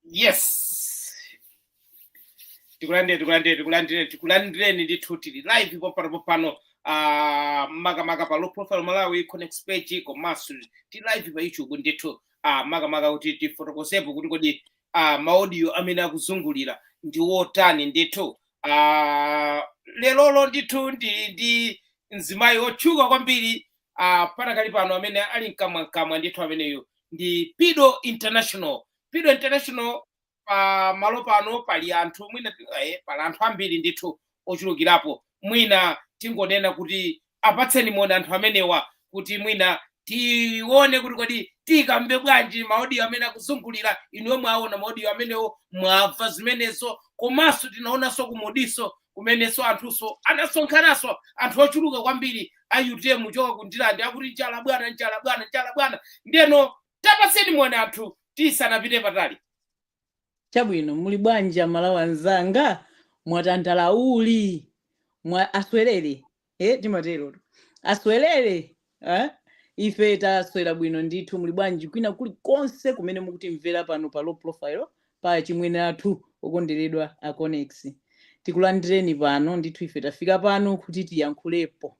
yes tikulandire tikulandireni tikulandireni tikulandireni ndithu tili live pompano pompano uh, makamaka pa low profile malawi connects page komanso tili live pa youtube ndithu uh, makamaka kuti tifotokozepo kuti kodi uh, maaudio amene akuzungulira ndi wotani ndithu uh, lerolo ndithu ndi ndi mzimayi wotchuka kwambiri uh, panakali pano amene ali mkamwamkamwa ndithu ameneyu ndi pido international pido international pa malo pano pali anthu mwina eh, pali anthu ambiri ndithu ochulukirapo mwina tingonena kuti apatseni moni anthu amenewa kuti mwina tione kuti kodi tiikambe bwanji maodiyo amene akuzungulira inuyo mwaona maodiyo amenewo mwamva zimenezo komanso tinaonanso kumodiso kumenenso anthunso adasonkhananso anthu ochuluka kwambiri a utm kuchoka ku ndirande akuti njala bwana njala bwana njala bwana ndeno tapatseni moni anthu tisanapite patali chabwino muli bwanji amalawi anzanga mwatandala uli mwa aswerere e timaterotu aswerere eh? ife taswera bwino ndithu muli bwanji kwina kulikonse kumene mukutimvera pano pa low profile pa chimwene athu okonderedwa a connects tikulandireni pano ndithu ife tafika pano kuti tiyankhulepo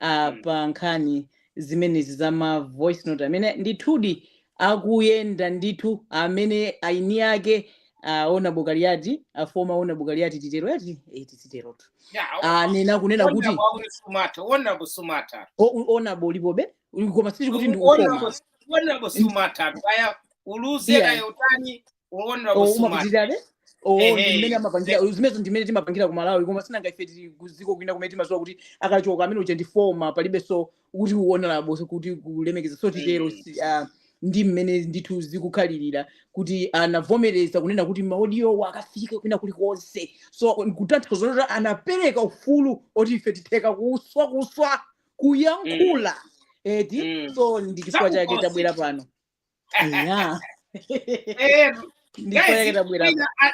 ah, Mm. pa nkhani zimenezi za ma voice note amene ndithudi akuyenda ndithu amene aini ake aona bukaliyati afoma ona bukaliyati titero ati eh, tiziterotu Yeah, anena kunena kuti honorable akuti sumata, honorable sumata. o- honorable ulipobe koma sitiri kuti ndi ukoma Honorable- honorable sumata, kaya uluze Iya. kaya utani, wowonera Oh, kusumati umapitirirabe oh ndi ehe mmene amapangira ze- zimenezo ndi mmene timapangira ku malawi koma sinanga ife tili ku dziko kwina kumene timadziwa kuti akachoka amene uja ndi former palibenso kuti u honorable kuti kulemekeza so titero mm. si- ah, ndi mmene ndithu zikukhalirira kuti anavomereza kunena kuti maodiyowo akafike kwina kulikonse so kutanthauza kuti anapereka ufulu woti ife titheka kuswa kuswa mm. kuyankhula eti mm. so ndi chifukwa chake zakukosi tabwera pano Yeah. Eh, guys, mwina a-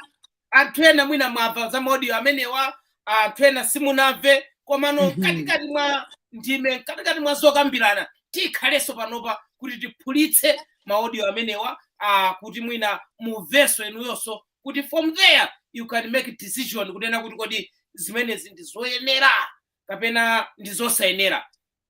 anthu ena mwina mwamva za maudio amenewa anthu ena simunamve komano Mhm. mkatikati mwa ndime mkatikati mwa zokambirana tikhalenso panopa kuti tiphulitse maudio amenewa ah, kuti mwina mumvenso inuyonso kuti from there you can make decision kunena kuti kodi zimenezi ndi zoyenera kapena ndi zosayenera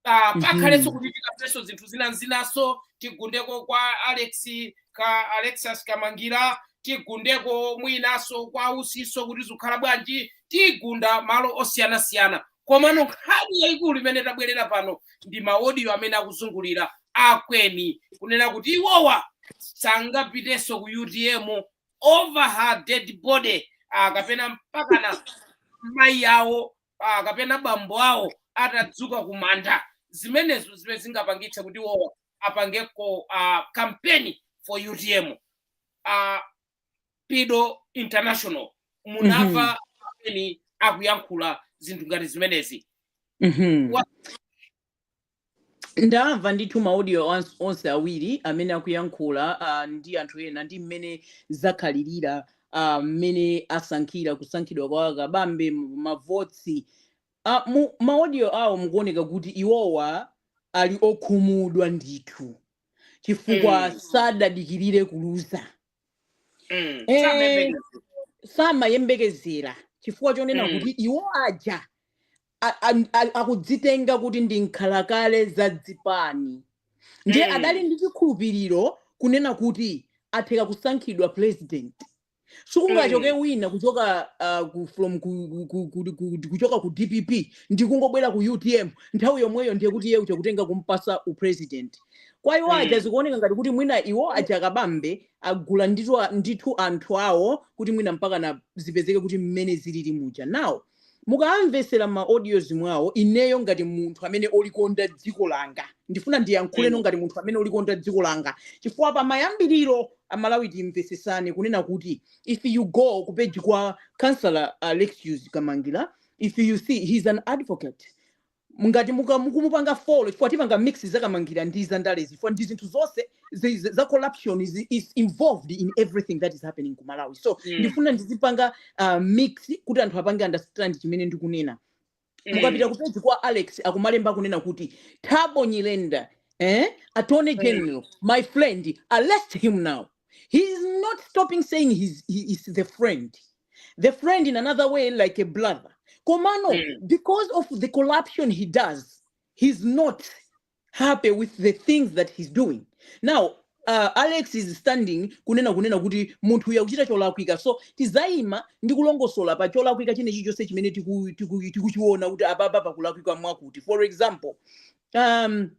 Ah, Mhm. pakhalenso kuti tikafenso zinthu zina n'zinanso tigundeko kwa alex ka alexious kamangira tigundeko mwinanso kwa usinso kuti zukhala bwanji tigunda malo osiyanasiyana komano nkhani yayikulu imene tabwerera pano ndi maodiyo amene akuzungulira akweni kunena kuti iwowa sangapitenso ku utm over her dead body ah, kapena mpakana mayi awo ah, kapena bambo awo atadzuka kumanda zimenezo zimene zingapangitse kuti iwo apangeko uh, kampeni for utm uh, pido international munamva ma audio mm -hmm. amene akuyankhula zinthu ngati zimenezi mm -hmm. ndamva ndithu ma audio ans- onse awiri amene akuyankhula uh, ndi anthu ena ndi mmene zakhalirira ah, mmene asankhira kusankhidwa kwa kabambe mu- mavoti uh, mu ma audio awo mukuoneka kuti iwowa ali okhumudwa ndithu chifukwa Mm. sadadikirire kuluza Mm. Eh, Samayembekezera. samayembekezera chifukwa chonena Mm. kuti iwo aja a- a- a- akudzitenga kuti ndi nkhalakale za zipani ndiye Mm. adali ndi chikhulupiriro kunena kuti atha kusankhidwa president sikungachoke Mm. wina kuchoka uh, ku, from ku, ku, ku, ku, ku, kuchoka ku dpp ndi kungobwera ku utm nthawi yomweyo ndiye kuti iye uzingotenga kumpasa upresident kwa iwo aja mm. zikuoneka ngati kuti mwina iwo aja a kabambe agula ndithu, ndithu anthu awo kuti mwina mpakana zipezeke kuti mmene zilili muja nawo mukamvetsera ma audios mwawo ineyo ngati munthu amene olikonda dziko langa ndifuna ndiyankhuleno mm. ngati munthu amene olikonda dziko langa chifukwa pa mayambiriro amalawi timvetsetsane kunena kuti if you go ku page kwa counsellor uh, alexious kamangila if you see he's an advocate Ngati muka mukumupanga follow chifukwa tipanga mix za kamangira ndi za ndalezi chifukwa ndi zinthu zonse zi- zi- za corruption is, is involved in everything that is happening ku Malawi so Mm. ndifuna ndizipanga uh, mix kuti anthu apange understand chimene ndikunena mukapita Mm. kupeji kwa alex akumalemba akunena kuti thabo nyirenda eh? attorney Mm. general my friend arrest him now he is not stopping saying he's, he is the friend the friend in another way like a brother komano mm. because of the corruption he does he's not happy with the things that he's doing now uh, alex is standing kunena kunena kuti munthu uyu akuchita cholakwika so tiziyima ndi kulongosola pa cholakwika china chilichonse chimene tikuchiona kuti apapa pakulakwika mwakuti for example um,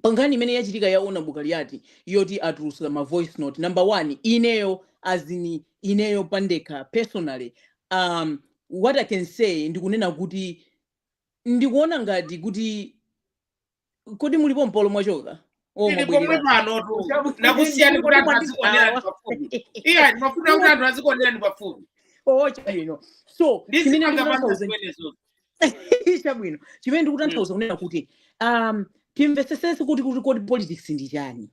pankhani imene yachitika ya honorable kaliati yoti atulutsa ma voice note number one ineyo as in ineyo pandekha personally um, what i can say ndikunena kuti ndikuona ngati kuti kodi mulipo mpolo mwachoka Oh, tili pomwe mwabwerera. panotu Chabwino nakusiyani kuti anthu azikuonera ndi pafupi iya ndimafuna kuti anthu azikuonera ndi pafupi Oh, chabwino so Ndizipanga chimene ndikutanthauza maso zimenezo. chabwino chimene ndikutanthauza kunena kuti um, timvetsetse kuti kuti kodi politics ndi chani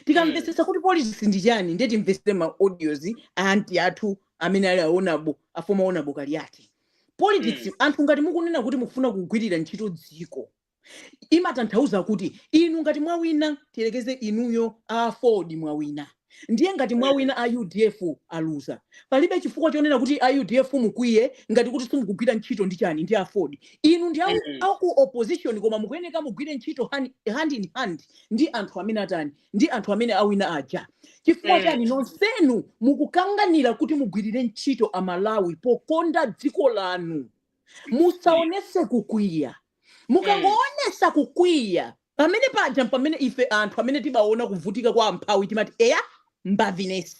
tikamvetsetsa kuti politics ndi chani ndiye timvetsere ma audios a aunt athu amene ali a honorable a former honorable kaliati politics anthu ngati mukunena kuti mukufuna kugwirira ntchito dziko imatanthauza kuti inu ngati mwawina tiyerekeze inuyo a aford mwawina ndiye ngati mwawina a udf aluza palibe chifukwa chonena kuti a udf mukwiye ngati kuti simukugwira ntchito ndi chani ndi aford inu ndi aku, Mm. aku opposition koma mukuyeneka mugwire ntchito hand, hand in hand ndi anthu amene atani ndi anthu amene awina aja chifukwa Mm. chani nonsenu mukukanganira kuti mugwirire ntchito amalawi pokonda dziko lanu musaonese kukwiya mukangoonetsa kukwiya pamene paja pamene ife anthu amene timaona kuvutika kwa amphawi timati eya mbaviness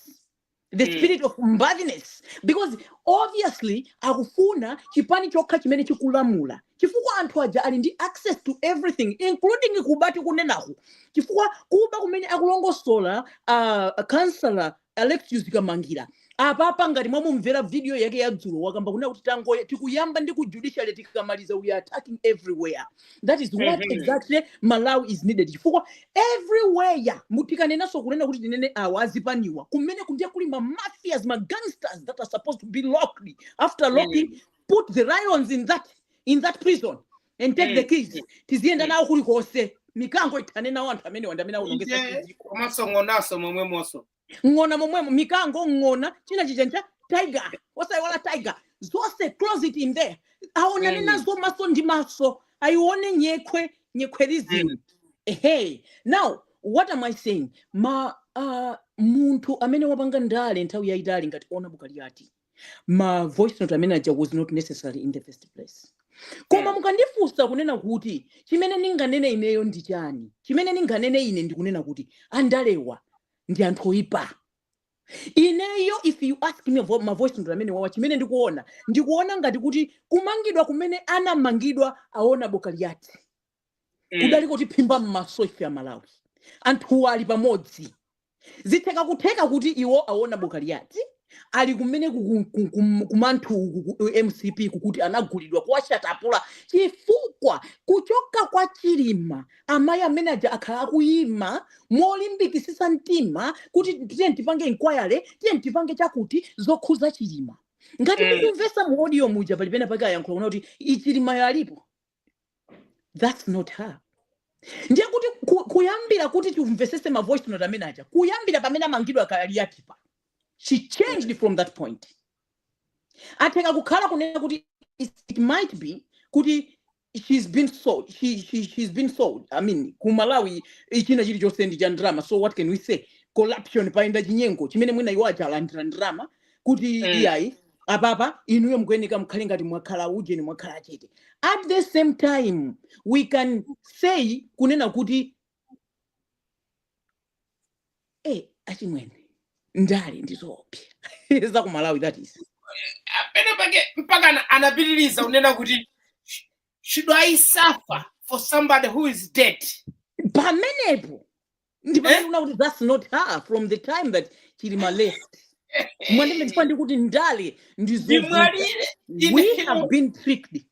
the Mm. spirit of mbaviness because obviously akufuna chipani chokha chimene chikulamula chifukwa anthu aja ali ndi access to everything including kuba tikunenako chifukwa kuba kumene akulongosola uh, kansala Alexious Kamangira apapa ngati mwamumvera video yake ya dzulo wakamba kunena kuti tangoya tikuyamba ndi ku judiciary tikamaliza we are attacking everywhere that is what Mhm. exactly malawi is needed chifukwa everywhere mutikanenanso kunena kuti tinene awa azipaniwa kumene kundiye kuli ma mafias ma gangsters that are supposed to be locked after locking put the lions in that in that prison and take the keys tiziyenda nawo kulikonse mikango ithane nawo anthu amenewa ndi amene aonongetsa ije dziko komanso ng'onaso momwemonso ng'ona momwemo mikango ng'ona china chijachi cha tiger osayiwala tiger zonse close in there aonane Mm. nazo maso ndi maso ayione nyekhwe nyekhwerizim Mm. ehe now what am i saying ma uh, munthu amene wapanga ndale nthawi yayitali ngati honorable kaliati ma voice note amenewaja was not necessary in the first place koma mm. mukandifunsa kunena kuti chimene ndinganene ineyo ndi chani chimene ndinganene ine ndikunena kuti andalewa ndi anthu oyipa ineyo if you ask me vo- ma voice note amenewawa chimene ndikuona ndikuona ngati kuti kumangidwa kumene anamangidwa a honorable kaliati mm. kudali kotiphimba m'maso ife amalawi anthuwa ali pamodzi zitheka kutheka kuti iwo aona bo kaliati ali kumene kumbali ya mcp koma kuti anagulidwa kuwashatapula chifukwa kuchoka kwa chilima amayi amene aja akhala akuyima molimbikitsitsa mtima kuti tiye tipange inquiry tiye tipange chakuti zokhuza chilima ngati mm. mukumvetsa mu audio muja pali pena pake ayankhula kunena kuti chilimayo alipo that's not her ndiye kuti ku- kuyambira kuti timvetsetse ma voice note amene aja kuyambira pamene amangidwa kaliati pa she changed from that point atheka kukhala kunena kuti it, it might be kuti she's been sold she, she, she's been sold i mean ku malawi china chilichonse ndi cha ndrama so what can we say corruption payenda chinyengo chimene mwina iwo aja alandira ndrama kuti mm. iyayi apapa inuyo mukuyeneka mukhale ngati mwakhala ujeni mwakhala achete at the same time we can say kunena kuti e eh, achimwene ndale ndi zoopsa zakumalawi that is pene pake mpaka anapitiriza kunena kuti should i suffer for somebody who is dead pamenepo ndimaiona kuti that's not her from the time that chilima left mwanene chifukwa ndikuti ndale ndizovuta ndimwalire we ine have been tricked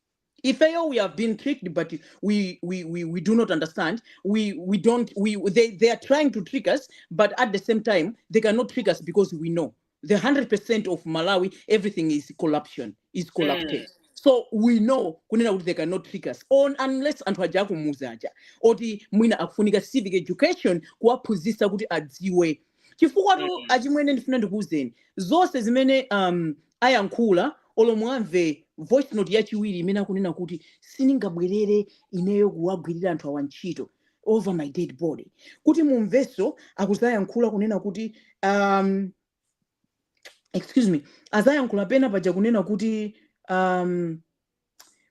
ifeyo we have been tricked but we, we, we, we do not understand we, we don't we, they, they are trying to trick us but at the same time they cannot trick us because we know the 100% of malawi everything is corruption is corrupted mm. so we know kunena kuti they cannot trick us unless anthu aja akumudzi aja oti mwina akufunika civic education kuwaphunzitsa kuti adziwe chifukwatu mm. achimwene ndifuna ndikuuzeni zonse zimene um, ayankhula olo mumve voice note yachiwiri imene akunena kuti sindingabwerere ineyo kuwagwirira anthu awa ntchito over my dead body kuti mumvenso akudzayankhula kunena kuti um, excuse me adzayankhula pena paja kunena kuti um,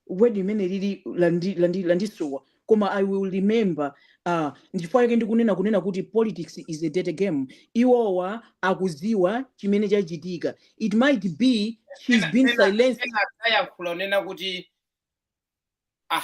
word imene lili landi- landi- landisowa koma i will remember uh, ndichifukwa chake ndikunena kunena kuti politics is a dirty game iwowa akudziwa chimene chachitika it might be she's been silenced ayankhula kunena kuti ah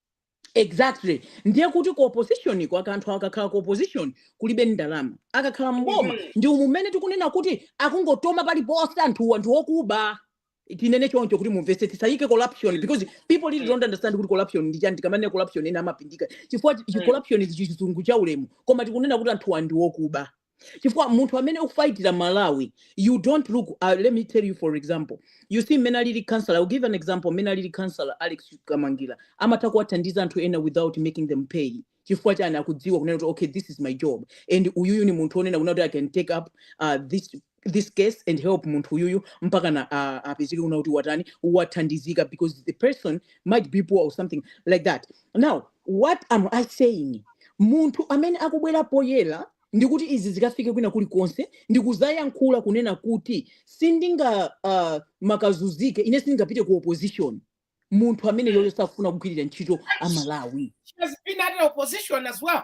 exactly ndiye kuti ku opposition ko aka- anthu akakhala ku opposition kulibe ndalama akakhala mboma Mhm. ndi umu mmene tikunena kuti akungotoma paliponse anthuwa ndi okuba tinene choncho kuti mumvetse tisayike corruption because people really don't understand kuti corruption ndi chani tikamanena corruption ena amapindika chifukwa chi- chi- Mm. corruption ndi chizungu cha ulemu koma tikunena kuti anthuwa ndi okuba chifukwa munthu amene ukufayitira malawi you don't look uh, let me tell you for example you see mmene alili councillor I'll give an example mmene alili councillor alex kamangila amatha kuwathandiza anthu ena without making them pay chifukwa chani akudziwa kunena kuti okay this is my job and uyuyu ni munthu onena kunena kuti i can take up uh, this this case and help munthu uyuyu mpakana uh, apezeke kunena kuti watani wathandizika because the person might be poor or something like that Now what am I saying? Munthu amene akubwera poyera ndikuti izi zikafike kwina kulikonse ndikuzayankhula kunena kuti sindinga uh, makazunzike ine sindingapite ku opposition munthu amene yoyo sakufuna kugwirira ntchito amalawi She has been at opposition as well.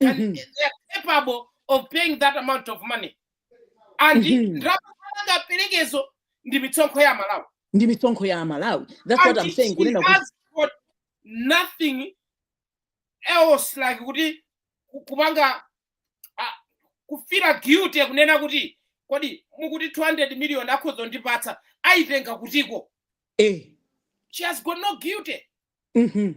can, Mhm. they are capable of paying that amount of money and Mhm. ndalama angapelekezo ndi mitsonkho ya malawi ndi mitsonkho ya amalawi that's what and i'm saying she kunena kuti has got nothing else like kuti ku- kupanga ah, kufila guilty kunena kuti kodi mukuti 200 million akhoza ndipatsa ayitenga kutiko a she has got no guilty Mhm.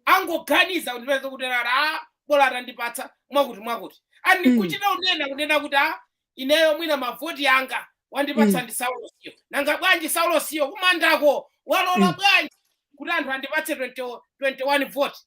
angoganiza kundipeza kunena kuti a bola atandipatsa mwakuti mwakuti and Mm. nkuchita unena kunena kuti a ineyo mwina mavoti anga wandipatsa Mm. ndi saulosiyo nanga bwanji saulosiyo kumandako walola Mm. bwanji kuti anthu andipatse 20 21 voti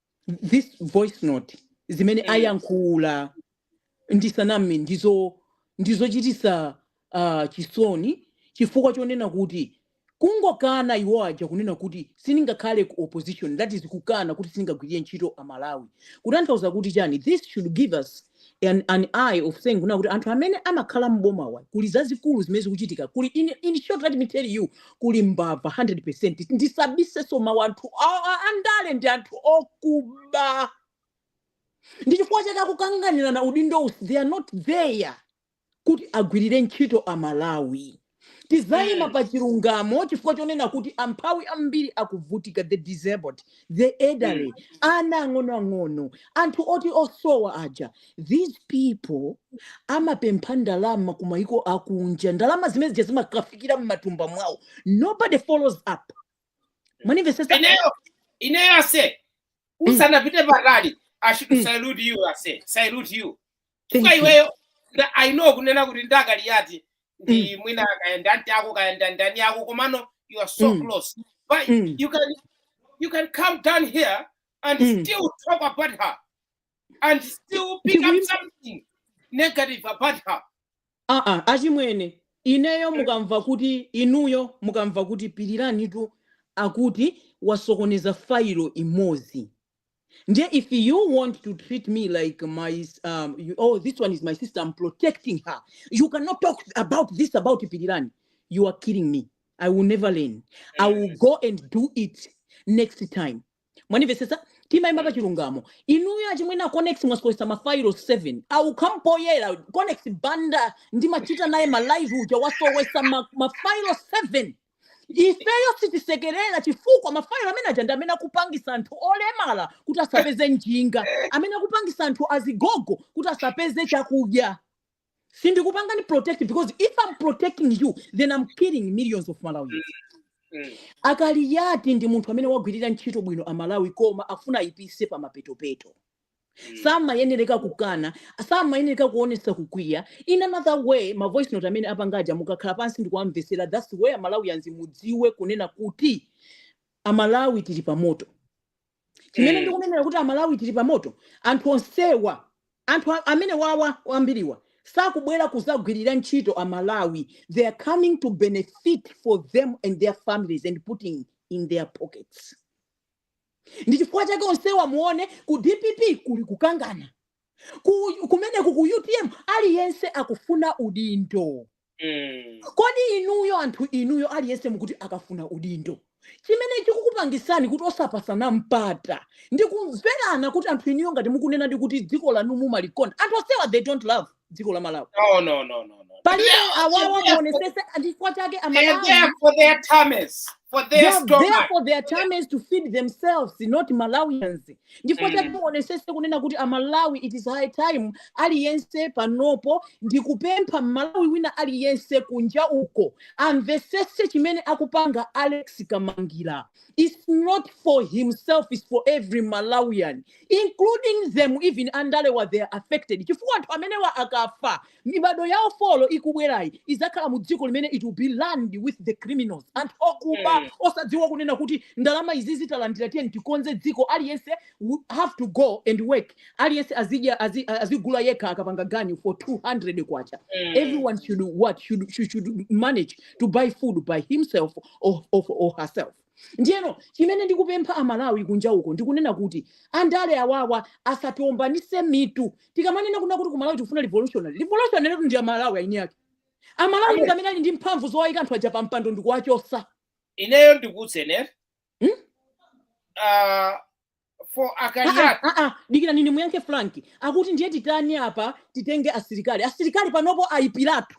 this voice note zimene mm. ayankhula ndisaname ndiz ndizochitisa uh, chisoni chifukwa chonena kuti kungokana iwo aja kunena kuti siningakhale ku opposition that is kukana kuti siningagwirire ntchito amalawi kutanthauza kuti chani this should give us an, an eye of saying kuna kuti anthu amene amakhala m'bomawa kuli zazikulu zimene zikuchitika kuli in, in short let me tell you kuli mbava 100 percent ndisabiseso mawu anthu a- a- andale ndi anthu okuba ndi chifukwa chake akukanganirana udindo usi they are not there kuti agwirire ntchito amalawi tizaima mm. pa chilungamo chifukwa chonena kuti amphawi ambiri akuvutika the disabled the elderly mm. ana ang'onoang'ono anthu oti osowa aja these people amapempha ndalama ku maiko akunja ndalama zimene zija zimakafikira mmatumba mwawo nobody follows up mwanimvesesa ineyo ineyo aise mm. usanapite patali i should mm. salute you aise salute you Thank kwa you. iweyo nda- i know kunena kuti Akaliati ndi mwina kayenda nti ako kayenda ndani ako komano you are so Mm. close but Mm. you can you can come down here and Mm. still talk about her and still pick up Ndikuim- something negative about her aa achimwene ineyo mukamva kuti inuyo mukamva kuti Piliranitu akuti wasokoneza failo imodzi Ndiye if you want to treat me like my s- um, you, oh this one is my sister I'm protecting her. You cannot talk about this about Pidirani. You are killing me. I will never learn. I will Yes. go and do it next time. Mwanivesesa timayimba pa chilungamo. Inuyo achimwena Conex mwasowesa ma file 7. I will come poyera Conex Banda ndimachita naye ma live uja wasowesa ma, ma file 7. ifeyo sitisekerera chifukwa mafayilo amene aja ndi amene akupangisa anthu olemala kuti asapeze njinga amene akupangisa anthu azigogo kuti asapeze chakudya sindikupangani protect because if i'm protecting you then i'm killing millions of malawians Mm. Akaliati ndi munthu amene wagwirira ntchito bwino amalawi koma afuna ayipise pa mapetopeto Mm. samayenereka kukana samayenereka kuonesa kukwiya in another way ma voice note amene apangaja mukakhala pansi ndikuwamvesera thats why amalawi anzanga mudziwe kunena kuti amalawi tili pamoto chimene Mm. ndikunenera kuti amalawi tili pamoto anthu onsewa anthu a- amene awawa ambiriwa sakubwera kuzagwirira ntchito amalawi they are coming to benefit for them and their families and putting in their pockets ndi chifukwa chake onsewa muone ku dpp kuli kukangana ku, kumeneku ku utm aliyense akufuna udindo Mm. kodi inuyo anthu inuyo aliyense mukuti akafuna udindo chimene chikukupangisani kuti osapasana mpata ndi kumverana kuti anthu inuyo ngati mukunena ndi kuti dziko lanu mumalikonda anthu onsewa they don't love dziko la malawi No, no, no, no, no. palibe They- awawa they- muonesese chifukwa chake They're there amalawi for their tummies, for They their are there stomach. for their times to feed themselves, not Malawians. Ndifukwa Mm. chake muonesese kunena kuti a Malawi it is high time aliyense panopo ndikupempha Mmalawi wina aliyense kunja uko amvesese chimene akupanga Alex Kamangila. It's not for himself, it's for every Malawian. including them even andalewa they are affected chifukwa anthu amenewa akafa mibado yawo folo ikubwerayi izakhala mu dziko limene it will be run with the criminals anthu okuba Mm. osadziwa kunena kuti ndalama izi zi talandira tiyeni tikonze dziko aliyense we have to go and work aliyense azidya azi- azigula yekha akapanga ganyu for 200 kwacha Mm. everyone should what should, should, should manage to buy food by himself or, or, or herself Ndiyeno chimene ndikupempha Amalawi kunja uko ndi kunena kuti andale awawa asatiombanise mitu. Tikamanena kunena kuti ku Malawi tikufuna revolutionary, revolutionary tu ndi Amalawi eni ake. Amalawi ndi Amen. amene ali ndi mphamvu zowaika anthu aja pa mpando ndi kuwachosa. Ineyo ndikuuzeni Hmm? ah, for Ah, ah, Akariat. ah, ah, dikirani ndimuyankhe frank akuti ndiye titani apa titenge asilikali asilikali panopo ayipiratu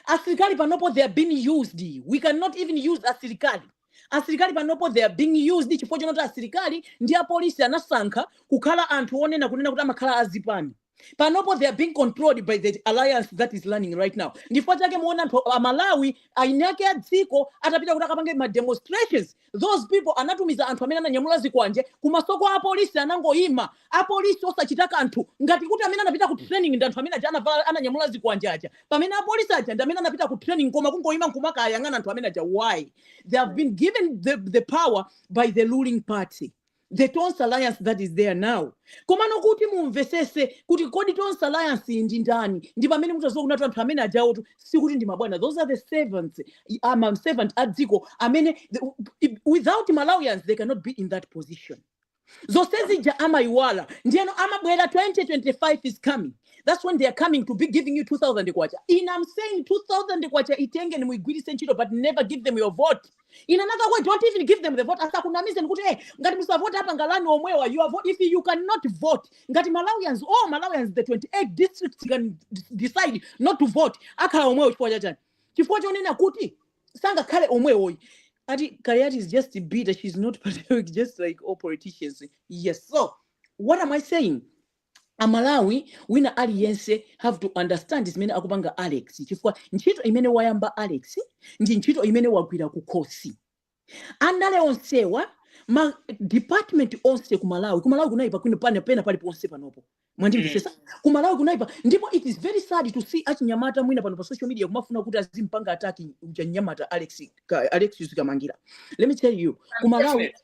asilikali panopo they are being used we cannot even use asilikali asilikali panopo they are being used chifukwa chonoti asilikali ndi apolisi anasankha kukhala anthu onena kunena kuti amakhala azipani panopo they are being controlled by the alliance that is running right now ndifukwa chake muona anthu a malawi eni ake a dziko atapita kuti akapange ma demonstrations those people anatumiza anthu amene ananyamula zikwanje kumasoko apolisi anangoyima apolisi osachita kanthu ngati kuti amene anapita ku training ndi anthu amene aja anavala- ananyamula zikwanje aja pamene apolisi aja ndi amene anapita ku training koma kungoyima nkumakawayang'ana anthu amene aja why they have been given the, the power by the ruling party the tonse alliance that is there now komano kuti mumvetsetse kuti kodi tonse alliance iyi ndi ndani ndi pamene mutadziwa kunena kuti anthu amene ajawotu sikuti ndi mabwana those are the servants ama servant a dziko amene the- without malawians they cannot be in that position zonse zija amayiwala ndiyeno amabwera 2025 is coming that's when they are coming to be giving you 2000 kwacha and i'm saying 2000 kwacha itengeni muigwirise ntchito but never give them your vote in another way don't even give them the vote asakunamizeni kuti eh ngati musavote apa ngalani omwewa you are vote if you cannot vote ngati malawians all malawians the 28 districts can decide not to vote akhala omwewo chifukwa chachani chifukwa chonena kuti sangakhale omwewoyi ati kaliati is just bitter she's not patriotic just like all politicians yes so what am i saying a malawi wina aliyense have to understand zimene akupanga alex chifukwa ntchito imene wayamba alex ndi ntchito imene wagwira kukhosi andale onsewa ma department onse ku malawi ku malawi kunayipa pena pali ponse panopo mwandimvetsetsa ku malawi kunayipa ndipo it is very sad to see achinyamata mwina pano pa social media kumafuna kuti azimpanga ataki mnyamata alex Ka- alex yusikamangira let me tell you ku malawi Unfortunate.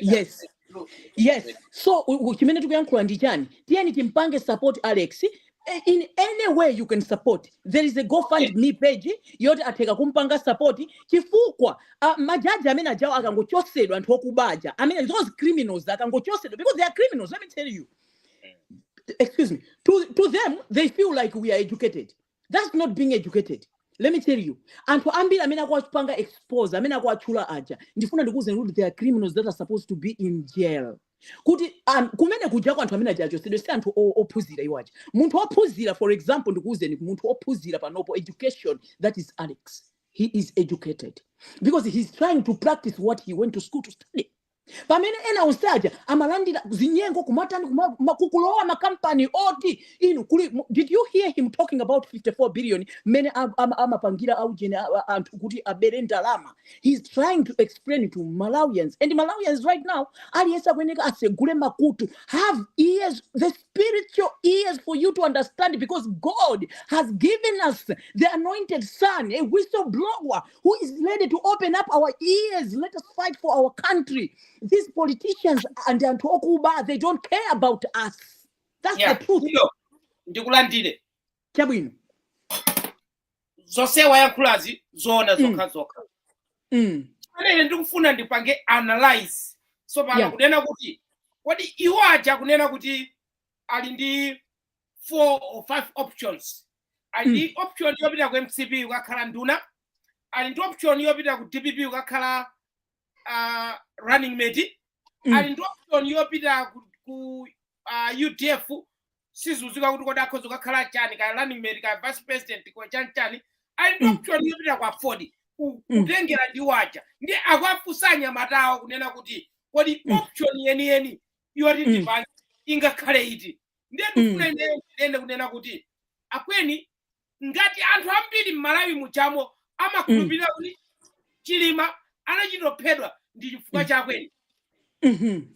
yes yes so chimene tikuyankhula ndi chani tiyeni timpange support alex eh, in any way you can support there is a gofundme page yoti atheka kumpanga support chifukwa uh, majaji amene ajawo akangochotsedwa anthu akuba aja amene those criminals akangochotsedwa because they are criminals let me tell you excuse me to, to them they feel like we are educated that's not being educated let me tell you anthu ambiri amene akuwapanga expose amene akuwatchula aja ndifuna ndikuwuzeni kuti they are criminals that are supposed to be in jail kuti um, kumene kujako anthu amene aja achotsedwe si anthu o- ophunzira iwo aja munthu ophunzira for example ndikuwuzeni munthu ophunzira panopo education that is alex he is educated because he is trying to practice what he went to school to study pamene ena onse aja amalandira zinyengo kumatani kuma- ma- kukulowa makampani oti inu kuli mu- did you hear him talking about 54 billion mmene am- am- amapangira aujeni a- a- anthu kuti abere ndalama he's trying to explain to malawians and malawians right now aliyense akuyeneka asegule makutu have ears the spiritual ears for you to understand because god has given us the anointed son a whistleblower who is ready to open up our ears let us fight for our country these politicians ndi anthu okuba they don't care about us that's yeah. the truth Kuno, ndikulandire chabwino zonse wayankhulazi zoona Mm. zokha zokha mm. pamene ndikufuna ndipange analyze tsopano Yeah. kunena kuti kodi iwo aja kunena kuti ali ndi four or five options ali ndi option yopita ku mcp kukakhala nduna ali ndi option yopita ku dpp kukakhala uh, running mate Mm. ali ndi option yopita ku, ku uh, udf sizidziwika kuti kodi akhoza kukakhala chani ka running mate ka vice president ka chani chani ali ndi Mm. option yopita kwa aford ku- Mm. kutengera ndi iwo aja ndiye akuwafunsa anyamatawo kunena kuti kodi Mm. option yeniyeni yoti mm. chipani ingakhale iti ndiye mm. ndikufuna ineyo ndiyende kunena kuti akweni ngati anthu ambiri mmalawi mujamo amakhulupirira mm. kuti chilima anachitophedwa ndi chifukwa cha akweni mm-hmm.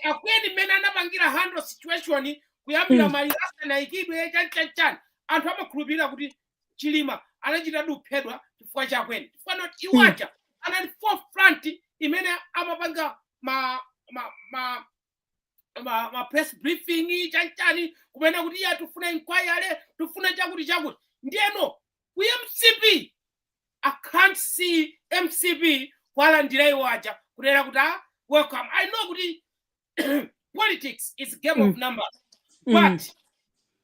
akweni mmene anapangira handle situation kuyambira maliro asanaikidwe chanchanchani anthu amakhulupirira kuti chilima anachito kuphedwa chifukwa cha akweni chifukwa not iwo Mm. aja anali forefront mmene amapanga ma ma ma ma, ma press briefing chanchani kunena kuti iyayi tifuna inquiry tifuna chakuti chakuti ndiyeno ku mcp i can't see mcp kwalandira iwo aja kunena kuti ah, welcome i know kuti politics is game of numbers but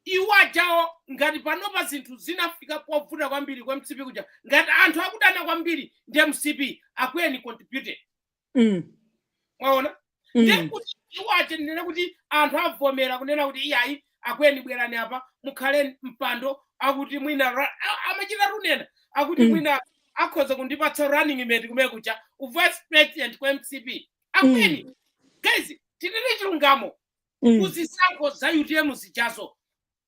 iwo ajawo ngati panopa zinthu zinafika povuta kwambiri kwa mcp kuja ngati anthu akudana kwambiri ndi mcp akweni contributed mwaona ndiye kuti iwo aja ndinene kuti anthu avomera kunena kuti iyayi akweni bwerani apa mukhale mpando akuti mwina ra- a- amachita kunena kuti Mm. mwina akhoza kundipatsa running mate kumene kuja uvice president ku mcp akweni mm. guys tinene chilungamo mm. kuzisankho za utm zijazo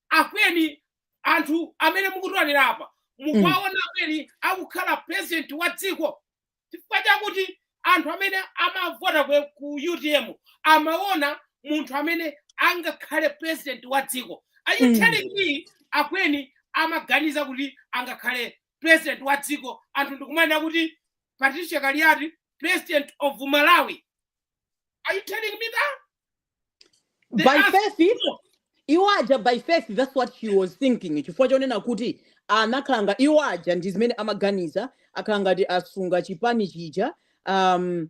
akweni anthu amene mukudziwa inu apa mukuwaona mm. akweni akukhala president wa dziko chifukwa chakuti anthu amene amavota ku utm amaona munthu amene angakhale president wa dziko are you mm. telling me akweni amaganiza kuti angakhale president wa dziko anthu ndikumanena kuti Patricia Kaliati, president of Malawi. Are you telling me that? They by faith, iwo aja by faith that's what she was thinking chifukwa chonena kuti anakhala ngati iwo aja ndi zimene amaganiza akhala ngati asunga chipani chija um,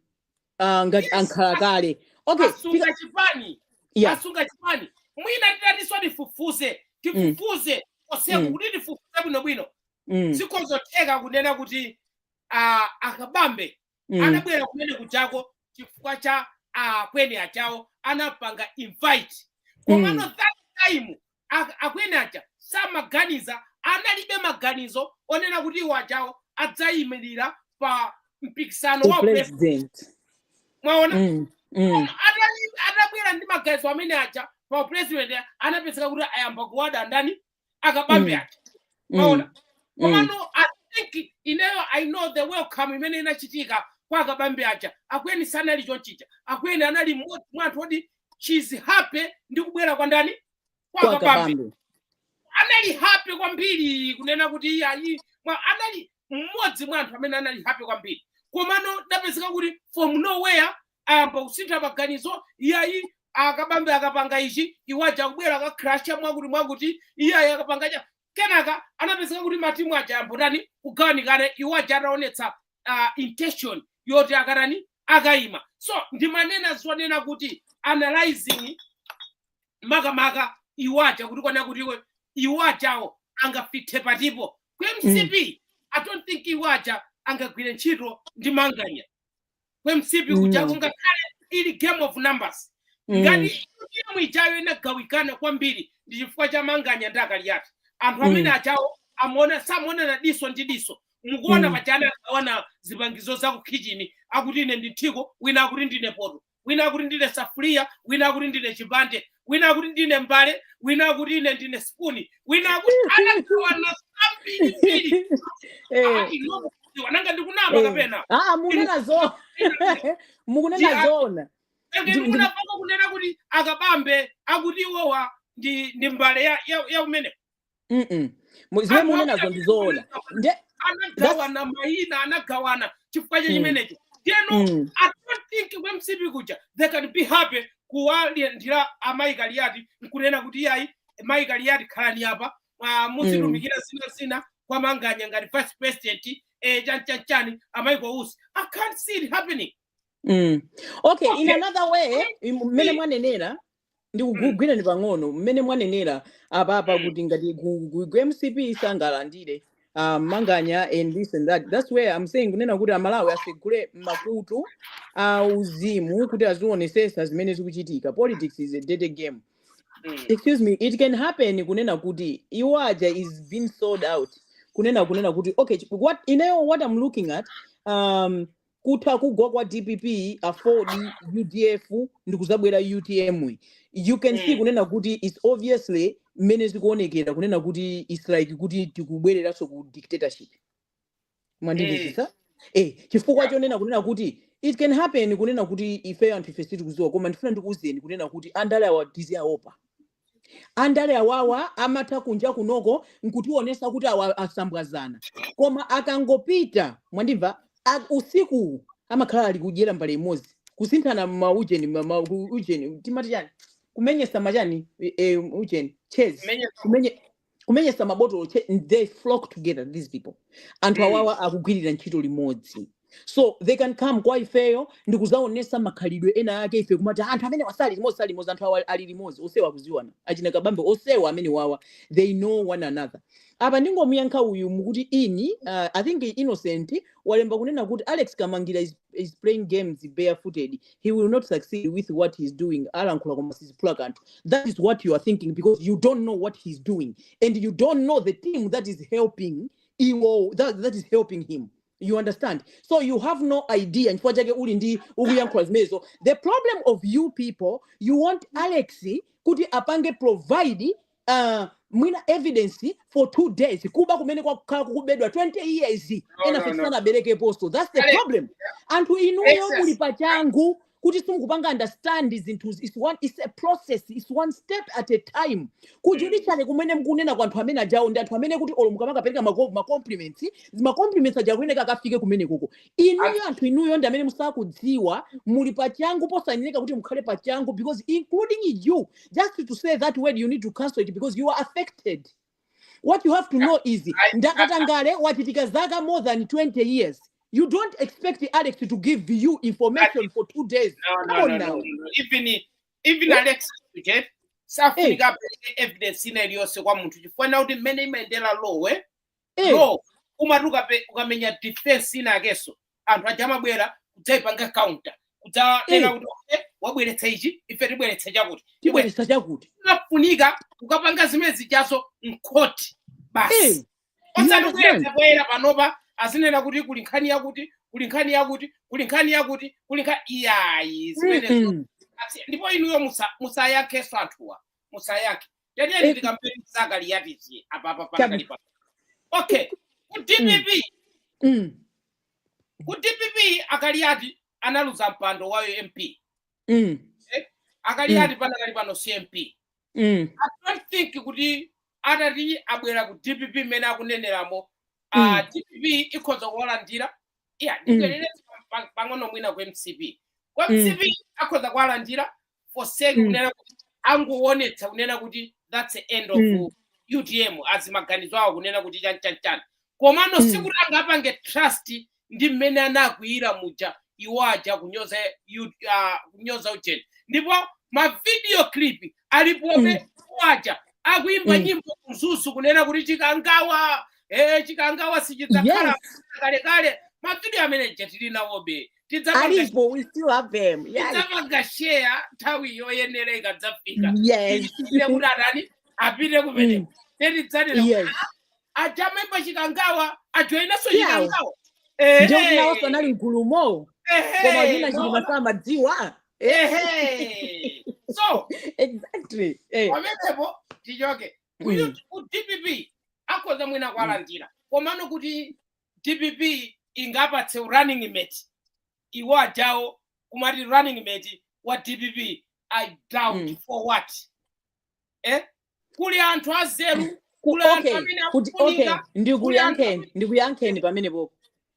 uh, ngati yes, ankhala kale okay asunga chipani yeah. asunga chipani mwina titatinso tifufuze tifufuze mm. oseku mm. kuti tifufuze bwinobwino Mm. zikhozotheka kunena kuti ah, akabambe Mm. anabwera kumene kujako chifukwa cha akweni achawo anapanga invite komano Mm. that time ak- akweni aja samaganiza analibe maganizo onena kuti iwo ajawo adzayimirira pa mpikisano wa president. upresident mwaona Mm. Mm. Koma atali- atabwera ndi maganizo amene aja pa upresident anapezeka kuti ayamba kuwada ndani akabambe mm. aja mm. mwaona mm. komano mm. i think ineyo i know the welcome imene inachitika kwa akabambe aja akweni sanali chonchija akweni anali mmodzi mwa anthu oti she was happy ndi kubwera kwa ndani kwa akabambe anali happy kwambiri kunena kuti iyayi anali mmodzi mwa anthu amene anali happy kwambiri komano tapezeka kuti from nowhere ayamba kusintha maganizo iyayi akabambe akapanga ichi iwaja akubwera akaklasha mwakuti mwakuti iyayi akapanga cha kenaka anapezeka kuti matimu aja ayamba kutani kugawanikana iwaja ataonetsa uh, intention yoti akatani akayima so ndimanena zonena kuti analyzing makamaka iwaja kuti kunena kuti iwe iwajawo angafite patipo ku mcp i don't think iwaja angagwire ntchito ndi manganya ku mcp kujako Mm. ngakhale ili game of numbers Mm. ngati timu ijayo inagawanikana kwambiri ndi chifukwa cha manganya ndi akaliyati anthu amene Mm. aja amaona samaonana diso ndi diso mukuona Mm. paja anagawana zipangizo za kukhitchini akuti ine ndi mthiko wina akuti ndine poto wina akuti ndine safuliya wina akuti ndine chipande wina akuti ndine mbale wina akuti ine ndine spuni wina akuti anagawana zambirimbiri Eh. inu mukuziwa nanga ndikunama Eh. kapena Ah, ah, mukunena zo mukunena Ndi- zona Ndi- ndi- ndikupanga kunena kuti akabambe akuti iwowa ndi ndi mbale ya, ya, ya umene mm zimene anthu akuti mukunenazo ndi zoona anagawana nde that's anagawana mayina anagawana chifukwa cha mm, chimenecho ndiyeno mm, i don't think ku mcp kuja they can be happy kuwalandira amayi kaliyati nkunena kuti iyayi mayi kaliyati khalani apa ah, mm, muzitumikira zina zina bwana manganya ngati vice president eh, chani chani chani amayi kwausi i can't see it happening mm. okay in okay another way im- mmene mcp mwanenera ndikugwireni pang'ono mmene mwanenera apapa mm. kuti ngati mcp sangalandire uh, manganya and this and that that's where i'm saying kunena kuti amalawi asegule makutu a uzimu kuti azionesesa zimene zikuchitika politics is a dirty game mm. excuse me it can happen kunena kuti iwo aja is being sold out kunena kunena kuti okay what ineyo what i'm looking at um, kutha kugwa kwa dpp aford udf ndikuzabwera utm yi you can see Mm. kunena kuti its obviously mmene zikuonekera kunena kuti its like kuti tikubwereranso ku dictatorship Mm. mwandimvetsetsa eh chifukwa chonena kunena kuti it can happen kunena kuti ifeyo anthu ife sitikuziwa koma ndifuna ndikuuzeni kunena kuti andale awa tiziaopa Andale awawa amatha kunja kunoko nkutionesa kuti awa akusambwazana koma akangopita mwandimva a- usikuwu amakhala ali kudyera mbale imodzi kusinthana maujeni ma- ma- ku- ujeni timati chani kumenyesa machani e, e, ujeni chezi kumenye kumenyesa mabotolo che- n- they flock together these people anthu mm. awawa akugwirira ntchito limodzi so they can come kwa ifeyo ndi kuzaonesa makhalidwe ena ake ife kumati "Ah, anthu amenewa sali limodzi sali limodzi anthu awa ali limodzi onsewa akuziwana achina kabambe onsewa amenewawa they know one another apa ndingomuyankha uyu mukuti ini uh, i think innocent walemba kunena kuti alex kamangira is playing games barefooted he will not succeed with what he's doing alankhula koma siziphula kanthu that is what you are thinking because you don't know what he's doing and you don't know the team that is helping iwo that, that is helping him you understand so you have no idea chifukwa chake uli ndi ukuyankhula zimenezo the problem of you people you want alex kuti apange provide uh, mwina evidence for two days kuba kumene kwakhala kukubedwa 20 years no, enafe sanaberekeponso that's the problem anthu inuyo muli pachangu kuti simukupanga understand zinthu it's a process it's one step at a time kujudiciary mm. kumene mkunena kwa anthu amene ajawo ndi anthu oti olo mukamakapereka macompliments macompliments aja kuyeneka akafike kumene koko inuyo anthu inuyo ndi amene musakudziwa muli pachangu posayeneka kuti mukhale pachangu because including you just to say that word you need to cancel it because you are affected what you have to know is ndakatangale wachitika zaka more than 20 years you don't expect alex to give you information for two days no, no, no, no, no. even even yeah. alex okay? safunika hey. evidence ina iliyonse kwa munthu chifukwa na kuti mmene imayendera lowe Eh. so umati ukape- ukamenya defense inakenso anthu aja amabwera kudzaipanga counter kudzanena Eh. kuti "Okay, wabweretsa ichi ife tibweretsa chakuti tibweretsa chakuti" zinafunika kukapanga zimene zijazo mkhoti Eh. basi osati Yes, kubweretsa poyera panopa azinena kuti kuli nkhani yakuti kuli nkhani yakuti kuli nkhani yakuti kuli nkhani iyayi zimenezo Mm-mm. Asi- ndipo inuyo musa- musayankhenso anthuwa musayankhe tenieni tikampeni zakali yatichi apa apa panakali pa okay ku dpp Mm. ku dpp a Kaliati analuza mpando wa u MP Mm. a Kaliati panakali pano si MP Mm. i don't think kuti atati abwera ku dpp mmene akuneneramo ah, Mm. dpp ikhoza kuwalandira iya ndibwerere pa- pang'ono mwina ku mcp ku Mm. mcp akhoza kuwalandira for sake Mm. kunena kuti angoonetsa kunena kuti that's the end of Mm. utm azimaganizo awo kunena kuti chanchanchani komano Mm. sikuti angapange trust ndi mmene anakwiyira muja iwo aja kunyoza yu- ah, kunyoza ujeni ndipo mavidiyo clip alipobe Mm. iwo aja akuimba Mm. nyimbo ku Mzuzu kunena kuti chikangawa eh, chikangawa sichidzakhala yes kalekale mavidiyo amene aja tili nawobe tidzapanga alipo we still have them yeah tidzapanga share nthawi yoyenera ikadzafika yes tichite kuti atani apite kumene Mm. tidzanena yes aja amaimba chikangawa ajoyinenso Yeah. chikangawa ndiye kuti nawonso anali mgulumo koma zina chilima samadziwa Eh, so exactly eh pamenepo tichoke Mm. Kuti ku dpp akhoza mwina kwalandira komano kuti dpp ingapatse running mate iwo ajawo kumati running mate wa dpp i doubt Mm. for what eh? kuli anthu anzeru Ku- kuli anthu okay amene kuti okay akufunika kuli anthu ndikuyankheni amene ndikuyankheni pamene popo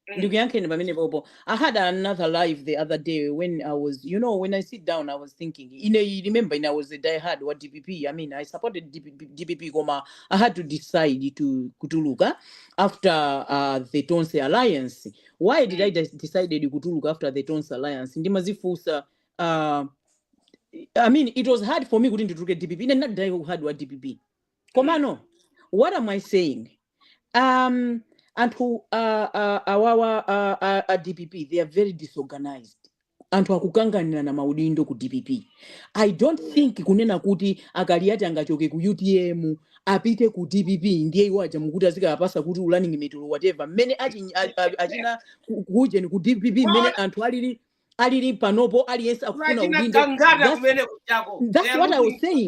Mm. ndikuyankheni pamene popo i had another live the other day when i was you know when i sit down i was thinking ine, remember ine i was a diehard wa dpp i mean i supported dpp, dpp koma i had to decide kutuluka after uh, the Tonse Alliance. Why did I de- decided kutuluka after the Tonse Alliance? Ndimazifusa uh, I mean it was hard for me kuti ndituluke DPP. Ine ndinadai kuhard wa DPP. Komano, what am I saying? Um, anthu uh, uh, awawa uh, uh, uh, DPP they are very disorganized. anthu akukanganirana maudindo ku dpp i don't think kunena kuti akaliyati angachoke ku utm apite ku dpp ndiye iwo aja mukuti azikapasa kuti running mate or whatever mmene achi- a- a- achina ku- kuujeni ku dpp mmene anthu alili alili panopo aliyense akufuna udindo that's, that's what i was saying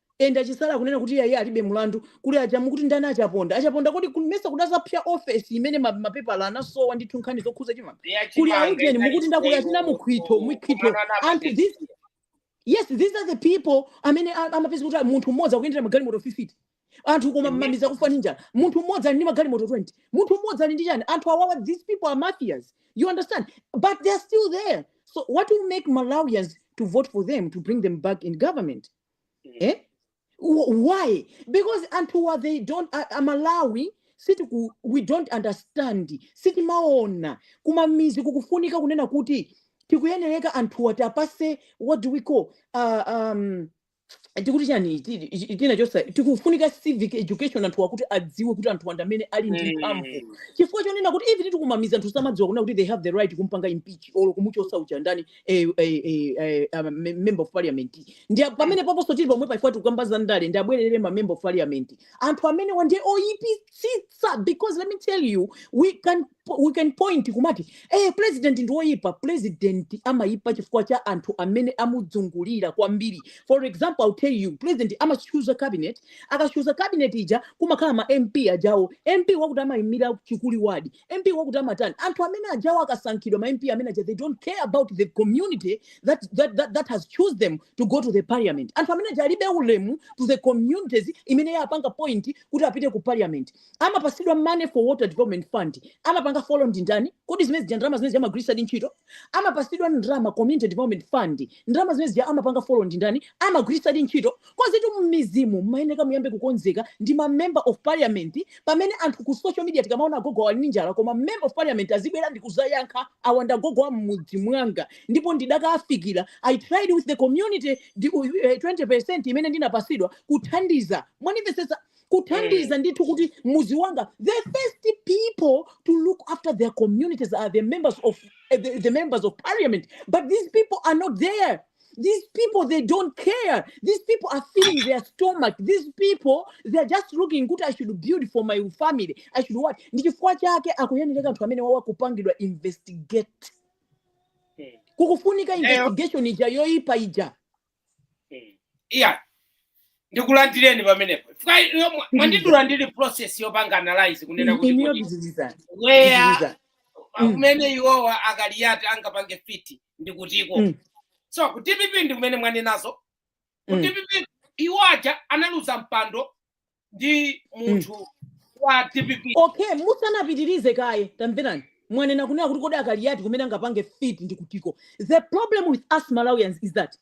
and achisala akunena kuti iye alibe mlandu kuli aja mukuti ndani achaponda achaponda kodi kun- mesa kudadzapsa ofesi imene ma- mapepala anasowa ndithu nkhani zokhuza chimanga kuli yachimanga aujeni inali mukuti ndakuli achina siteyo mukhito mukhito kumanana anthu this apatesiyo yes these are the people amene a- amapeza kuti munthu mmodzi akuyendera magalimoto 50 anthu koma mmamidzi kufa ndi njala munthu mmodzi ali ndi magalimoto 20 munthu mmodzi ali ndi chani anthu awawa these people are mafias you understand but they are still there so what will make malawians to vote for them to bring them back in government eh? Wh- why because anthuwa they don't a- amalawi sitiku we don't understand sitimaona kumamidzi kukufunika kunena kuti tikuyenereka anthuwa tiwapase what do we call uh, um, tikuti chani ti- ti- tina chosa tikufunika civic education anthu akuti adziwe kuti anthu ndi amene ali ndi mphamvu chifukwa chonena kuti even kumamidzi anthu samadziwa kunena kuti they have the right kumpanga impeach or kumuchosa uchandani eh, eh, eh, eh, um, me- member of parliament ndi a- pamene paponso tili pomwe paifukwa tikukamba za ndale ndi abwerere ma member of parliament anthu amenewa ndiye oyipitsitsa because let me tell you we can po- we can point kumati eh, president ndi woyipa president amayipa chifukwa cha anthu amene amuzungulira kwambiri for example i'll tell you president amachuza cabinet akachuza cabinet ija kumakhala ma mp ajawa mp wakuti amayimira chakuti wadi mp wakuti amatani anthu amene ajawa akasankhidwa ma mp amene aja they don't care about the community that, that, that, that has choosed them to go to the parliament anthu amene aja alibe ulemu to the communities imene yapanga point kuti apite ku parliament amapasidwa money for water development fund amapanga follow ndi ndani kodi zimene zija ndalama zimene amagwiritsadi ntchito amapasidwa ndalama community development fund ndalama zimene zija amapanga follow ndi ndani amagwiritsadi ntchito Koditu mmidzimu mmayeneka muyambe kukonzeka ndi ma member of parliament pamene anthu ku social media tikamaona agogo awa ali ndi njala koma member of parliament azibwera ndikuzayankha awa ndi agogo a mmudzi mwanga ndipo ndidakaafikira I tried with the community ndi, uh, 20% imene ndinapasidwa kuthandiza mwanimvetsetsa Mm. kuthandiza ndithu kuti mudzi wanga the first people to look after their communities are the members of eh, the, the members of parliament but these people are not there These people, they don't care. These people are filling their stomach. These people, they're just looking kuti I should build for my family. I should what? Ndi chifukwa chake akuyenereka anthu amene wawa kupangidwa investigate. Mm. Kukufunika Eyo. investigation ija yoipa ija. Mm. iya ndikulandireni pamenepo Fika- iyo mwa- mwandidula ndili process yopanga analyze kunena kuti Iniyo kuti buzizizana. where Buzizizana. Mm. kumene iwowa akaliyati angapange fiti ndikutiko mm. so ku dpp ndi kumene mwanenazo ku mm. dpp iwo aja analuza mpando ndi mm. munthu mm. wa dpp okay musanapitirize kaye tamverani mwanena kunena kuti kodi a Kaliati kumene angapange fit ndikutiko the problem with us malawians is that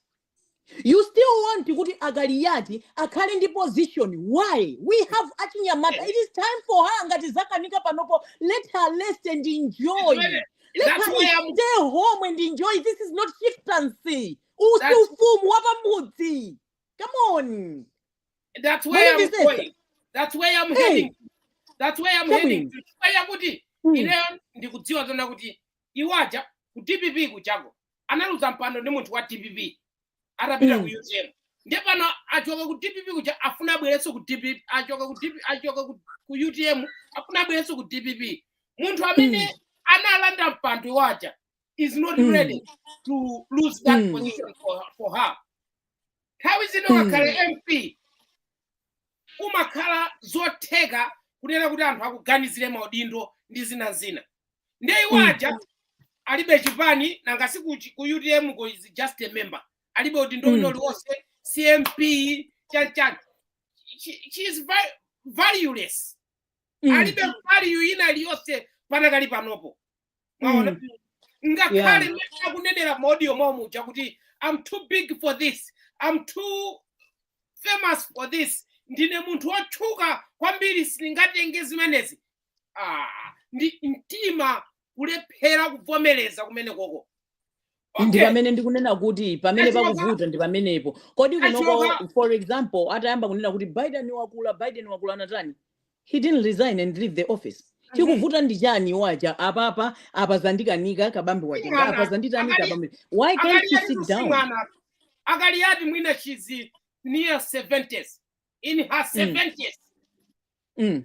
you still want kuti a Kaliati akhale ndi position why we have achinyamata it is time for her ngati zawakanika panopo let her rest and enjoy Zimene- let that's her why I'm- stay home and enjoy this is not chieftaincy si That's- ufumu wa pamudzi come on that's What where did I'm you say? going. That's where I'm Hey. heading. That's where I'm Come heading. in. to. Chifukwa chakuti Mm. ineyo ndikudziwa zona kuti iwaja ku DPP kuchako analuza mpando ndi munthu wa dpp atapita Mm. ku utm ndiye pano achoka ku dpp kuja akufuna abwerenso ku dpp achoka ku dpp achoka ku, ku utm akufuna abwerenso ku dpp munthu amene analanda mpando waja is not Mm. ready to lose that Mm. position for, for her nthawi zino Mm. ngakhale mp kumakhala zotheka kunena kuti anthu akuganizire maudindo ndi zina zina ndiye iwo Mm. aja alibe chipani nanga si ku, ku utm ko she's just a member alibe udindo Mm. wina uliwonse cmp chanchani she, she is va- valueless Mm. alibe value ina iliyonse panakali panopo mwaona Mm. ngakhale Yeah. mmene akunenera maudio mwawo muja kuti I'm too big for this I'm too famous for this ndine munthu wotchuka kwambiri sindingatenge zimenezi ah, ndi mtima kulephera kuvomereza kumene koko ndi Okay. pamene ndikunena kuti pamene Let's work pakuvuta ndi pamenepo kodi Let's kunoko work out. for example atayamba kunena kuti biden wakula biden wakula anatani he didn't resign and leave the office Mhm. chikuvuta ndi chani iwo aja apapa apa zandikanika kabambe watenga apa Mwana, zanditani akali- kabambe why can't a Kali you ali sit down kusimwana a Kaliati mwina she's near 70s in her 70s mm.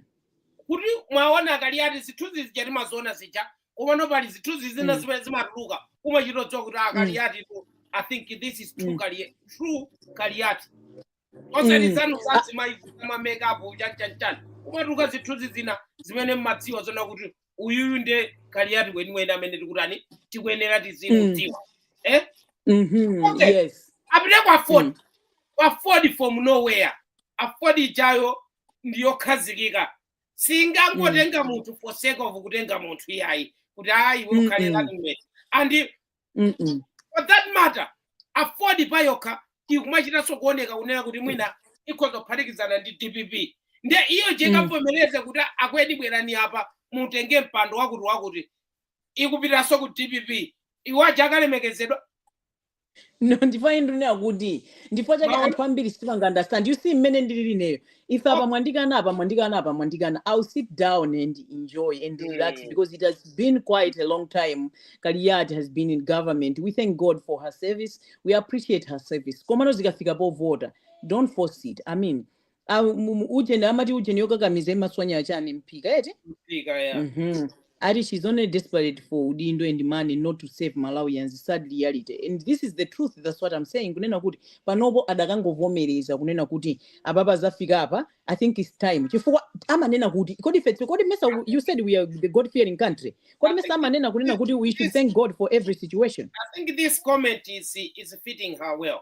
kuti mwaona a Kaliati zithunzi zija timaziona zija komano pali zithunzi zina Mm. zimene zimatuluka kumachita kudziwa kuti a Kaliatitu i think this is true Mm. Kali- true kaliati osati Mm. zanu Ah. zazimayi zama makeup chanchanchani kumatuluka zithunzi zina zimene mmadziwa zona kuti uyuyu nde kaliati weniweni amene tikutani tikuyenera tizimudziwa eh Mhm. Okay. yes apite kwa aford Mm. kwa aford from nowhere aford ijayo ndi yokhazikika siingangotenga munthu for sake of kutenga munthu iyayi kuti ayi iwe ukhale Mm-mm. landmate and Mm-mm. for that matter Aford payokha ikumachitanso kuoneka kunena kuti mwina ikhoza kuphatikizana ndi dpp nde iyo ija Mm. ikavomereze kuti akweni bwerani apa mutenge mpando wakuti wakuti ikupitanso ku dpp iwo aja akalemekezedwa no ndipo ine ndinena kuti ndipo chifukwa anthu ambiri simapanga understand you see mmene ndililiri ineyo if apa mwandikana apa mwandikana apa mwandikana i'll sit down and enjoy and relax mm. because it has been quite a long time kaliyati has been in government we thank god for her service we appreciate her service komano zikafika povota don't force it i mean Ah, mu- mu- ujeni amati ujeni yokakamiza imaswanya chiyani mphika eti Mphika ya. Mhm. Ati she's only desperate for udindo and money not to save Malawians sad reality and this is the truth that's what I'm saying kunena kuti panopo adakangovomereza kunena kuti apapa zafika apa I think it's time chifukwa amanena kuti kodi fetsi kodi mesa u- you said we are the God fearing country kodi I mesa think amanena kunena this, kuti we should this thank God for every situation I think this comment is is fitting her well.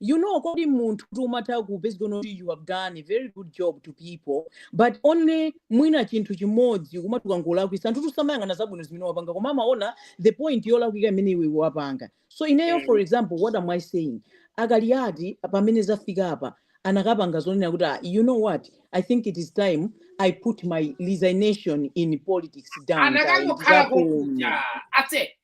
you know kodi munthu kuti umatha kupezeka kuti you have done a very good job to people but only mwina chinthu chimodzi chimati ukangolakwitsa anthu samayang'ana zabwino zimene wapanga koma amaona the point yolakwika imene iwe wapanga so ineyo for mm. example what am i saying a Kaliyati pamene zafika apa anakapanga zonena kuti ah, you know what i think it is time i put my resignation in politics down anakangokhala kuja ase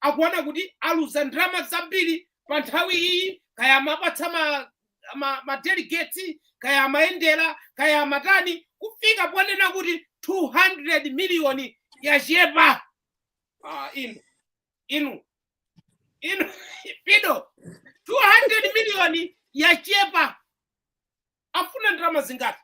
akuona kuti aluza ndalama zambiri pa nthawi iyi kaya amapatsa ma, ma, ma delegates kaya amayendera kaya amatani kufika ponena kuti 200 miliyoni yachepa ah, inu inu inu pido 200 miliyoni yachepa afuna ndalama zingati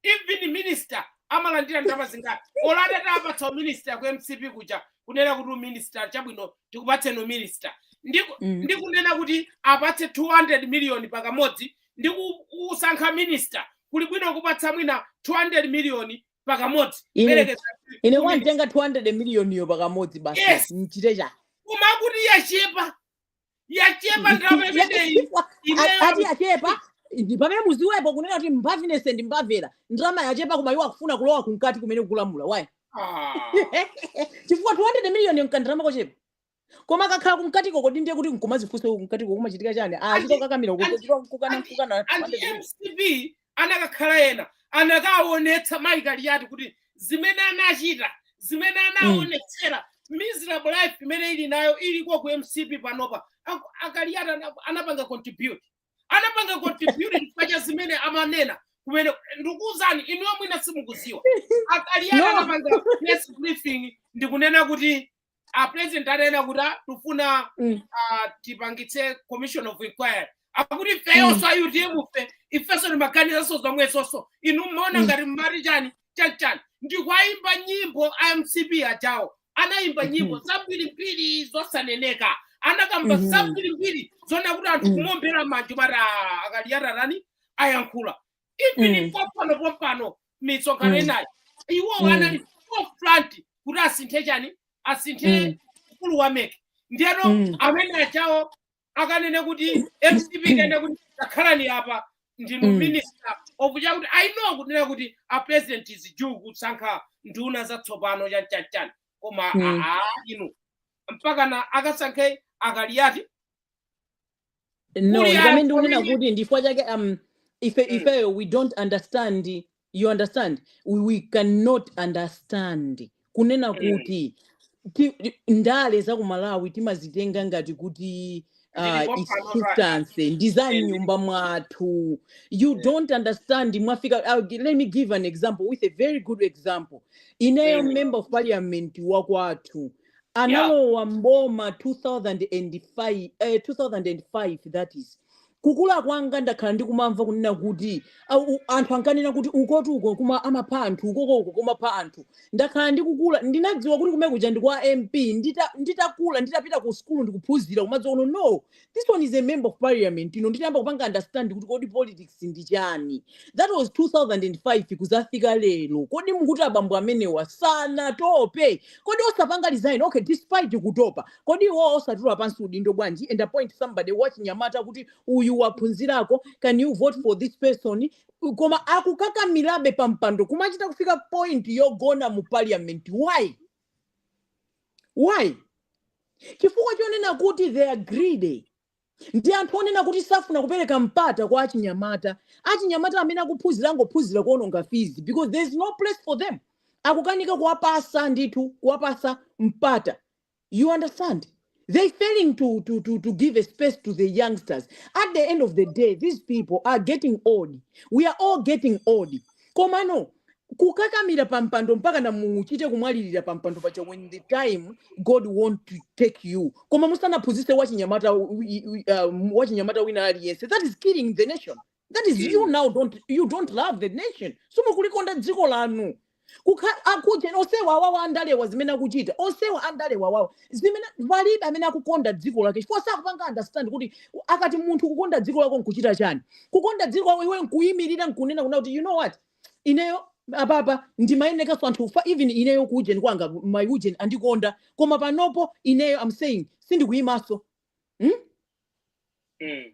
even minister amalandira ndalama zingati olo atati tawapatsa uminister ku mcp kuja kunena kuti uminister chabwino tikupatseni uminister Ndiku- Mm. ndikunena kuti apatse 200 million pakamodzi ndi ku- kusankha minister kuli bwino kupatsa mwina 200 million pakamodzi Ine- Yerekeza ine ku kungotenga 200 miliyoniyo pakamodzi basi Yes. ndichite chiyani koma kuti yachepa yachepa ndalama Ya- imeneyi chifukwa imeyo a- ati yachepa ndi pamene mudziwepo kunena kuti mbaviness ndi mbavera ndalama yachepa koma iwo akufuna kulowa kumkati kumene akulamula why Ah. chifukwa 200 million nkandalama kochepa koma akakhala kumkati koko ndi ndiye kuti nkumadzifunsa kumkati koko kumachitika chiyani achita Andi- kukakamira andi- kukana kukana and mcp anakakhala ena anakaonetsa mayi kaliyati kuti zimene anachita zimene anaonetsera miserable life imene ili nayo ili ku mcp panopa Aku- akaliyati ana- anapanga contribute anapanga contribute chifukwa cha zimene amanena kumene ndikuwuzani inuyo mwina simukuziwa akaliyati No. anapanga press briefing ndikunena kuti a president atanena kuti ah, tufuna Mm. ah, tipangitse commission of inquiry akuti ifeyonso a utmfe ifenso timaganizanso zomwezonso inu mmaona Mm. ngati mmati chani chanichani ndikuayimba nyimbo a mcp achawo anayimba Mhm. nyimbo zambirimbiri zosaneneka anakamba Mhm. zambirimbiri zona kuti anthu Mm. kumombera manja mara akaliyati atani ayankhula even Mm. pompano pompano misonkhano Mm. inayi iwo Mm. anali forefront kuti asinthe chani asinthe Mm. mkulu wa mec ndiyeno Mm. amene achawo akanene kuti mcp akanene kuti takhalani apa ndinu Mm. minister okucha kuti i know kunena kuti a president is due kusankha nduna zatsopano chanchanchan koma Mm. aa inu mpakana akasankhe akaliyati no amene ndikunena kuti ndifukwa chake um, ife mm, ifeyo we don't understand you understand we, we cannot understand kunena mm, kuti ti, ti- ndale za ku malawi timazitenga ngati kuti zili uh, popano its pa substance ndi za eh, mnyumba mwathu you eh, don't understand mwafika I'll, gi- let me give an example with a very good example ineyo mm, member of parliament wakwathu analowa mboma 2005 eh, 2005 that is kukula kwanga ndakhala ndikumamva kunena kuti au- u- anthu ankanena kuti ukotu uko kumapha anthu ukoko uko kumapha anthu ndakhala ndikukula ndinadziwa kuti kumekuja ndi kwa mp ndita- nditakula nditapita ku sukulu ndikuphunzira kumadziwa kuno no this one is a member of parliament ine nditayamba kupanga understand kuti kodi politics ndi chani that was 2005 kuzafika lero kodi mukuti abambo amenewa sanatope kodi osapanga resign okay despite kutopa kodi iwo osatula pansi udindo bwanji and appoint somebody wachinyamata kuti uyu waphunzirako can you vote for this person koma akukakamirabe pampando kumachita kufika point yogona mu parliament why why chifukwa chonena kuti they are greedy ndi anthu onena kuti safuna kupereka mpata kwa achinyamata achinyamata amene akuphunzira angophunzira kuononga fizi because there is no place for them akukanika kuwapasa ndithu kuwapasa mpata you understand they failing to, to, to, to give a space to the youngsters at the end of the day these people are getting old we are all getting old komano kukakamira pa mpando mpaka na muchite kumwalirira pa mpando paja when the time god wants to take you koma musanaphunzitse wachinyamata wi- i- i- um, wachinyamata wina aliyense that is killing the nation that is you now don't you don't love the nation simukulikonda dziko lanu Kukha- akuja onsewa awawa andalewa zimene akuchita onsewa andalewa awawa zimene palibe amene akukonda dziko lake chifukwa sakupanga understand kuti ku- akati munthu kukonda dziko lako nkuchita chani kukonda dziko lako iwe nkuyimirira nkunena kunena kuti you know what ineyo apapa ndimayenekanso anthu fa even ineyo ku ujeni kwanga maujeni andikonda koma panopo ineyo am saying sindikuyimanso hmm? Mm.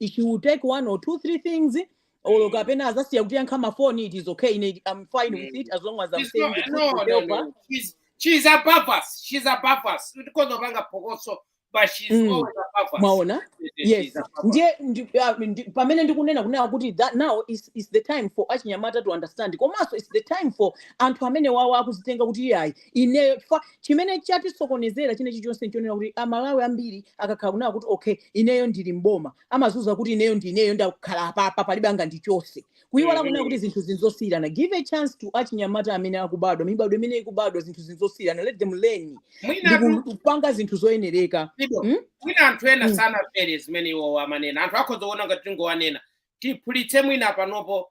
she will take one or two three things or mm. kapena adzasiya kutiyankha mafoni it is okay ine i'm fine mm. with it as long as i'm saying the truth no, no, no. She's, she's above us she's above us tikungopanga phokoso mm. mwaona yes ndiye ah, pamene ndikunena kunena kuti that now is, is the time for achinyamata to understand komanso is the time for anthu amene awa akuzitenga kuti iyayi ineyo chifukwa chimene chatisokonezera chinechi chonse nchonena kuti amalawi ambiri akakhala kunena kuti okay ineyo ndili mboma amadziuza kuti ineyo ndi ineyo ndakhala apapa palibe angandichotse kuyiwala kunena kuti zinthu nzosiyirana give a chance to achinyamata amene akubadwa mibadwa imene ikubadwa zinthu nzosiyirana let them learn ndi mwinatu ku- kupanga zinthu zoyenereka Lido, mm? mwina anthu ena Mm. sanamvere zimene iwowo amanena anthu akhoza kuona ngati tikungowanena tiphulitse mwina panopo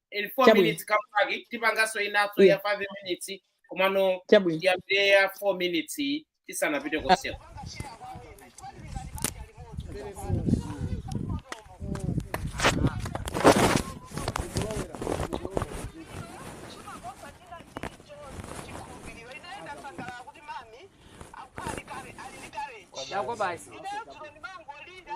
in four Chabwino. minutes come back tipanganso inayo ya five minutes komano Chabwino. tiyambire ya four minutes iyi tisanapite konseko Yakobo basi. Ndinenso ndimangolinda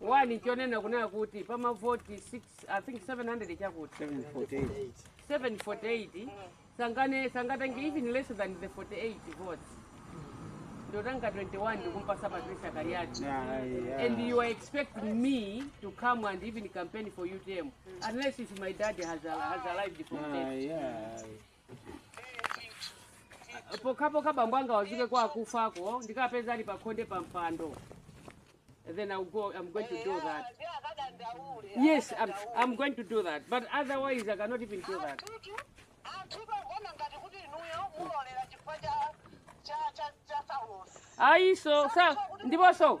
wani chonena kunena kuti pa mavoti 6 i think 700 chakuti 748 sangane sangatange even less than the 48 votes ndotanga 21 ndikumpasa patricia kaliati and you are expecting me to come and even campaign for utm unless if my dad has, a, has arrived from death pokhapokha bambo anga adzuke kwa akufako ndikapeze ali pakhonde pa mpando then I'll go, I'm going to do that. Yes, I'm, I'm going to do that. But otherwise, I cannot even do that. ayiso sa ndiponso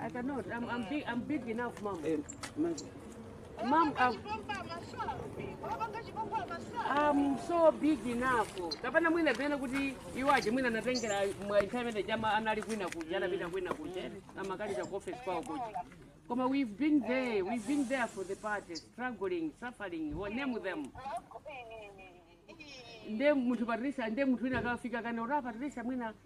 I cannot. I'm, I'm, big, I'm big enough, mom. Eh, mom. Mom, I'm, I'm so big enough. Kapena mwina pena kuti iwaje mwina natengera mwaithamene chama anali kwina kuja anapita kwina kuja amakaliza ku office kwawo kuja. Koma we've been there, we've been there for the party, struggling, suffering, we name them. Nde munthu Patricia, nde munthu wina akafika kana ora Patricia mwina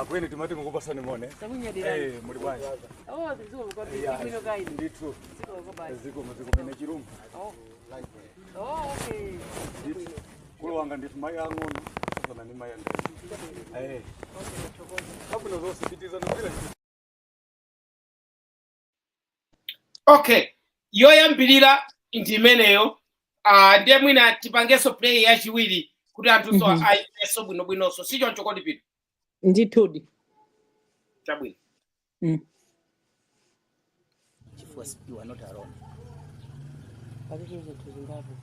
akweni timati tikupatsani moni Eh, muli bwanji ndithu zikomo zikumene chilumba kulu wanga ndithu mayi ang'ono sasana ni mayi andai kabwino zonse pitizana bila okay yoyambirira ndi imeneyo ah, ndiye mwina tipangenso play yachiwiri kuti anthunso Mhm. ayimvenso bwinobwinonso si choncho kodi pita ndithudi chabwino Mm. chifukwa si- you are not alone palibe zinthu zingapo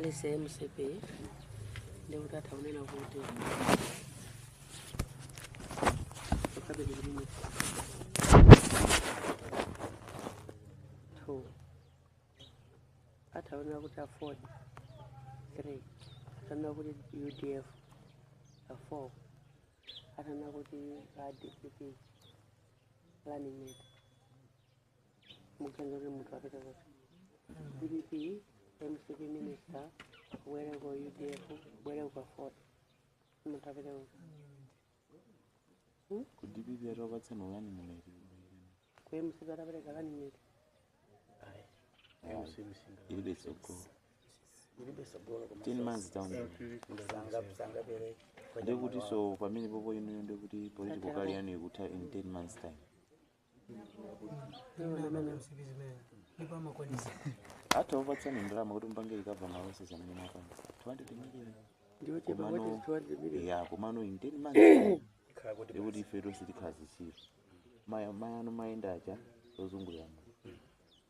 lese mcp ndikuti atha kunena kuti two atanena kuti aford three atanena kuti udf four atanena kuti dpp running mate mukutenga kuti munthu apita kuti dpp mcp minister kubwera ku udf kubwera ku aford munthu apite uko ku dpp atakupatsani u running mate koma msiku atapereka kani nyeti ilibe tsogolo ten months down the road. ndikuti so pamene popo inuyo ndikuti political career yanu ikutha in ten months time atakupatsani ndalama kuti mpange ikabva mawese zamene mapanga 200 million ndiochepa Komano- kuti 200 million ya komano in 10 months khala kuti ndikuti ife tonse tikhala zitsiru maya maya ano mayenda aja ozungulira muno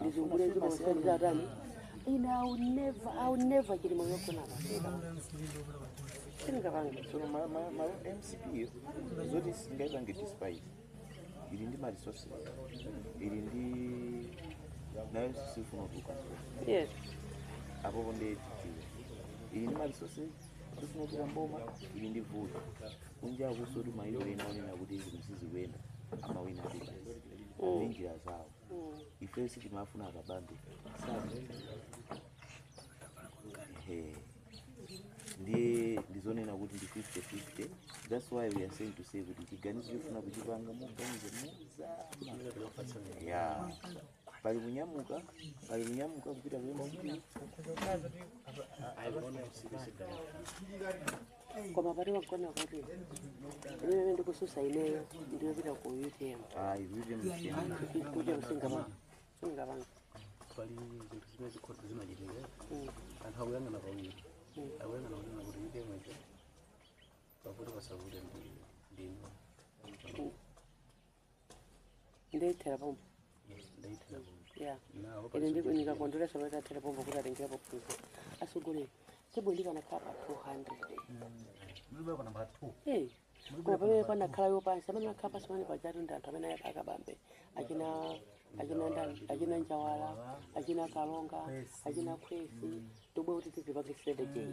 ndizungulenzi masikazi atani ine I'll never, I'll never chilima yogona pasera sindingapange tsono ma- ma- ma mcp yo zoti singaipange despite ili ndi maresources ili ndi nayo sifuna kutuluka yes apo konde dpp ili ndi maresources sifuna kutuluka m'boma ili ndi vuto kunja akusoti mayiko ena anena kuti zinthu sizikuyenda amawina ndi basi ndi njira zawo ife sitimayifuna akabambe ndiye ndizonena kuti ndi 50-50 that's why we are saying to say kuti chiganizo chofuna kuchipanga muganize mozama ya pali kunyamuka pali kunyamuka kupita ku mcp koma pati pagona kuti imene ndikutsutsa ineyo ndiyopita ku utm ayi vivyo n'siyana kuti sing'anga singapange pali zinthu zimene zikuti zimachitika anthu akuyang'ana pawiri akuyang'ana kunena kuti inde mwetcho pakuti pasavute ndinu nde ithera pompo ya ine ndipo n'zokondweretsa kuti athera pompo kuti atengerapo phunziro asogolera tebulo ndikanakhala pa 200 Mlibwe kapena namba 2. Eh, koma pamene panakhala yopansi amene akhala pansi pamene pajatu ndi anthu amene a Kabambe achina achina ndani achina Njawala achina Kalonga achina Nkhwazi tobwe kuti tizipange sede jei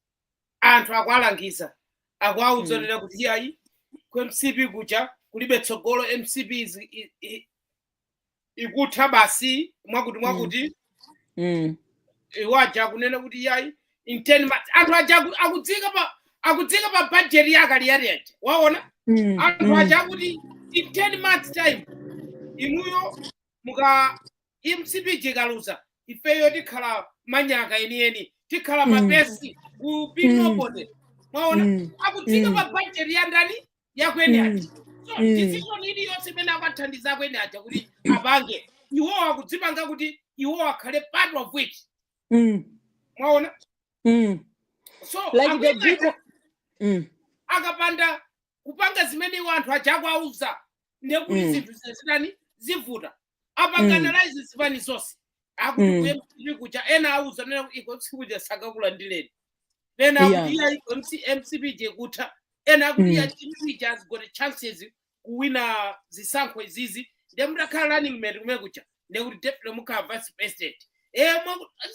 anthu akuwalangiza akuwauza Mm. zotere kuti iyayi ku mcp kuja kulibe tsogolo mcp is- i- i- ikutha basi mwakuti mwakuti Mm. iwo aja akunena kuti iyayi in 10 months anthu aja aku- akudziika pa akudziika pa budget ya Kaliati aja mwaona Mm. anthu Mm. aja akuti in 10 months time inuyo muka Ndi mcp ija ikaluza ifeyo tikhala manyaka enieni tikhala Mm. mapesi ku Mm. pinopote mwaona Mm. akudziika Mm. pa budget ya ndani ya akweni Mm. aja so Mm. decision iliyonse imene akuwathandiza akweni aja kuti apange iwo akudzipanga kuti iwo akhale part of it Mm. mwaona Mm. so Like the akweni big aja one. Mm. akapanda kupanga zimene iwo anthu aja akuwauza ndekuti Mm. zinthu zitani zivuta apanga mm. analyze zipani zonse akuti mm. mcp kuja ena auza nena kuti iko mcp kuja sakakulandireni ena akuti yeah. iko mcp ija ikutha ena akuti mm. mcp ija has got chances kuwina zisankho izizi nde mutakhala running mate kumene kuja nde kuti deputy mukhala vice president eh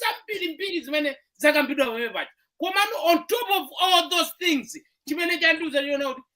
zambirimbiri zimene zakambidwa pamene paja komano on top of all those things chimene chandiuza chioneka kuti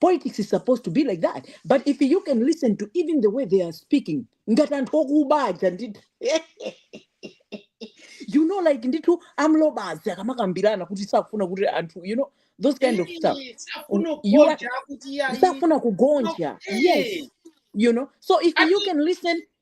politics is supposed to be like that but if you can listen to even the way they are speaking ngati anthu okuba aja ndi you know like ndithu a m'lobazi akamakambirana kuti sakufuna kuti anthu you know those kind of stuff Eh, sakufuna U- you are kugonja kuti iyayi sakufuna kugonja yes eh, you know so if you ati can listen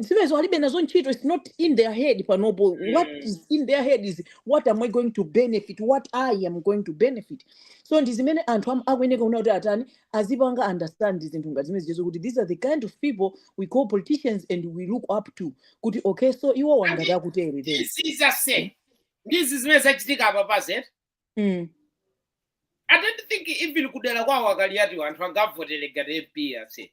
zimenezo alibe nazo ntchito its not in their head panopo what mm. is in their head is what am i going to benefit what i am going to benefit so ndi zimene anthu am- akuyeneka kuona kuti atani azipanga understand zinthu ngati zimene zijazo kuti these are the kind of people we call politicians and we look up to kuti okay so iwo ngati akutere then this is a sin ndi zimene zachitika apa because mm. i don't think even kudera kwawo a Kaliati anthu angawavotere ngati mp ase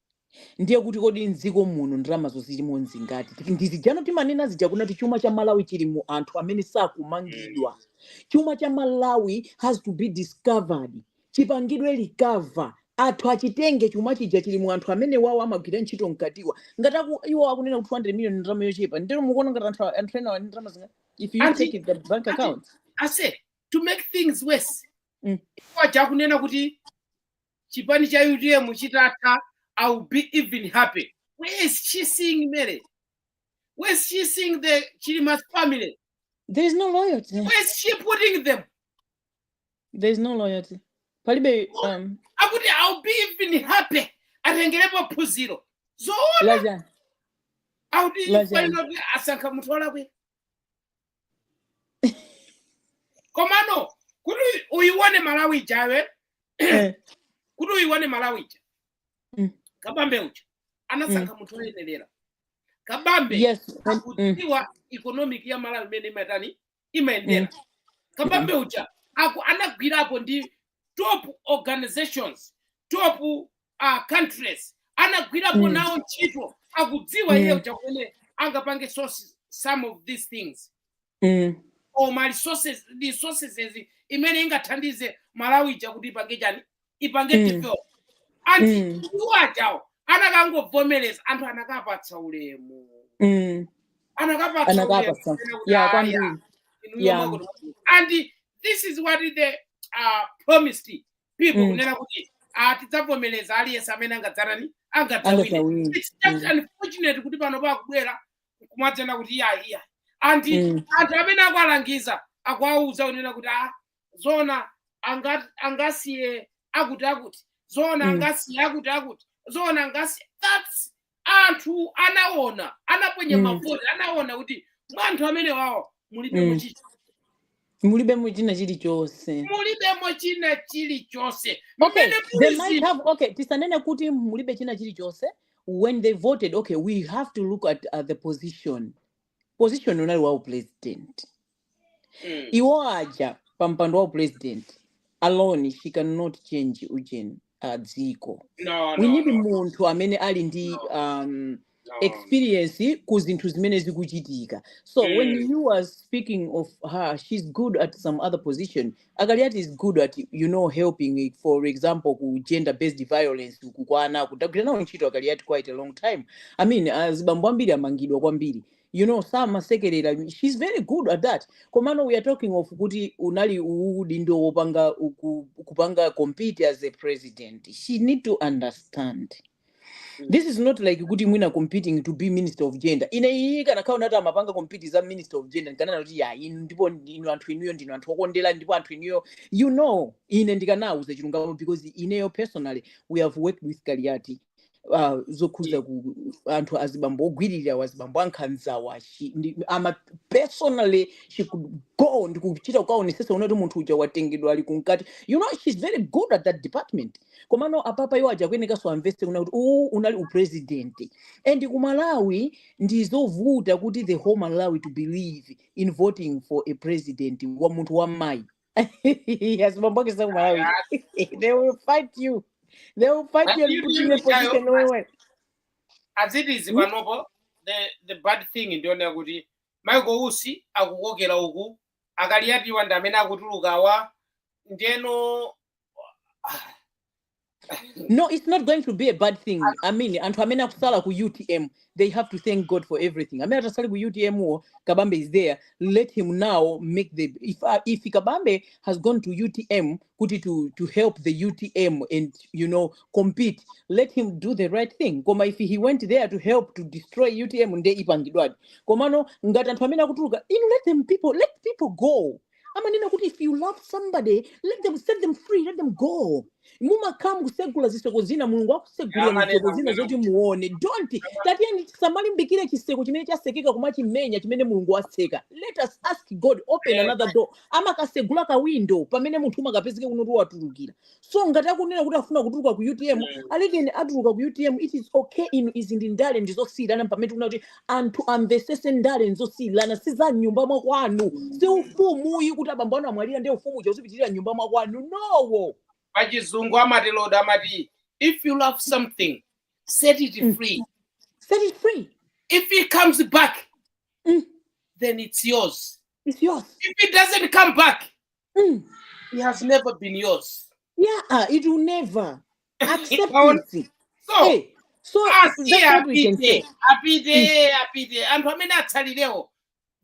Ndiye kuti kodi mdziko muno ndalamazo zilimo nzingati? Ndi zija timanena zija kunati chuma cha Malawi chili mu anthu amene sakumangidwa. Chuma cha Malawi has to be recovered. Chipangidwe recover. Anthu achitenge chuma chija chili mu anthu amenewawa amagwira ntchito mkatiwa. Ngati aku, iwo akunena kuti 200 million ndalama yochepa. Ndeno mukuona ngati anthu a- anthu enawa ali ndi ndalama zingati? If you Ati, check the bank ati, accounts. ase, to make things worse, Mm. iwo aja akunena kuti chipani cha utm chitatha i will be even happy where is she seeing mary where is she seeing the chilima's family there is no loyalty where is she putting them there is no loyalty palibe um, akuti i will be even happy atengerepo phunziro zoona laja akuti Lazaro. pamene asankha munthu olakwika komano kuti uyione malawi ija Eh. kuti uyione malawi ija Mm. kabambe uja anasankha munthu oyenerera kabambe yes mm. akudziwa economy ya malawi mmene imatani imayendera kabambe uja aku anagwirapo ndi top organizations top uh, countries anagwirapo Mm. nawo ntchito akudziwa Mm. iye cha mmene angapange sources- some of these things Mm. koma resources resources zimene zingathandize malawi ija kuti ipange chani ipange Mm. develop and Mm. iwo ajawo anakangovomereza anthu anakapatsa ulemu Mm. anakapatsa Anakapatsa. ulemu Yeah, kwambiri. Yeah. and this is what they uh, promised people Mm. kunena kuti ah, tidzavomereza aliyense amene angadzatani angadzawine angadzawine it's just Mm. unfortunate kuti panopa akubwera kumadzanena kuti iyayi iyayi and Mm. anthu amene akuwalangiza akuwauza kunena kuti ah, zona anga- angasiye akuti akuti zona Mm. angasiye akuti akuti zona angasiye that's anthu anaona anaponya Mm. mavoti anaona kuti mwa anthu amene wawo mulibemo Mm. china mulibemo china chilichonse mulibemo china chilichonse okay mmene they might polisi have okay tisanene kuti mulibe china chilichonse when they voted okay we have to look at, at the position position inali ya u president Mm. iwo aja pa mpando wa u president alone she cannot change ujeni uh, dziko No, we no, need no, no, munthu amene ali ndi no, um, no. experience ku zinthu zimene zikuchitika so when Mm. you are speaking of her she's good at some other position akaliati is good at you know helping for example ku gender based violence akukwana kuti agwira nawo ntchito akaliati quite a long time i mean azibambo ambiri amangidwa kwambiri you know samasekelera she's very good at that komano we are talking of kuti unali udindo wopanga uku- kupanga compete as a president she need to understand this is not like kuti mwina competing to be minister of gender ine iyi kanakhala kuti amapanga compete za minister of gender ndikananena kuti yayi ndipo anthu inuyo ndinu anthu okondera ndipo anthu inuyo you know ine ndikanauza chilungamo because ineyo personally we have worked with kaliati ah, zokhudza ku anthu azibambo ogwiririra wazibambo ankhanzawa she- ndi- ama personally she could go ndi kuchita kukaonesesa kunena kuti munthu uja watengedwa ali kunkati you know she's very good at that department komano apapa iwo aja akuyenekanso amvese kunena kuti uwu unali upresidenti and ku malawi ndi zovuta kuti the whole malawi to believe in voting for a president wa munthu wa mayi yes, Bombogi is not Malawi. they will fight you. They will fight But you and you put you in a think I- position where when as it is panopo the, the bad thing ndiona kuti michael usi akukokera uku akaliatiwa ndi amene akutulukawa ndeno no it's not going to be a bad thing i mean anthu amene akusala ku utm they have to thank god for everything amene atasali ku utm wo kabambe is there let him now make the if, uh, if kabambe has gone to utm kuti to, to help the utm and you know compete let him do the right thing koma if he went there to help to destroy utm nde ipangidwadi komano ngati anthu amene akutuluka inu let them people let people go amanena kuti if you love somebody let them set them free let them go mumakhala mukusegula ziseko zina mulungu akusegulira ziseko zina zoti muone don't tatiyeni tisamalimbikire chiseko chimene chasekeka kumachimenya chimene mulungu waseka let us ask god open another door amakasegula kawindo pamene munthu umakapezeka kunena kuti watulukira so ngati akunena kuti afuna kutuluka ku utm Mm. alekeni atuluke ku utm it is okay inu izi ndi ndale ndizosiyirana pamene tikufuna kuti anthu amvesese ndale nzosiyirana si za mnyumba mwakwanu si ufumuyi kuti abambo anu amwalira ndi ufumu uja uzipitirira mnyumba mwakwanu no pachizungu amati lord amati if you love something set it Mm. free set it free if it comes back Mm. then it's yours it's yours if it doesn't come back Mm. It has never been yours. Yeah, uh, it will never accept Kaona- it. So, Hey, so that's asiye what we can apite say. apite apite anthu amene atsalirewo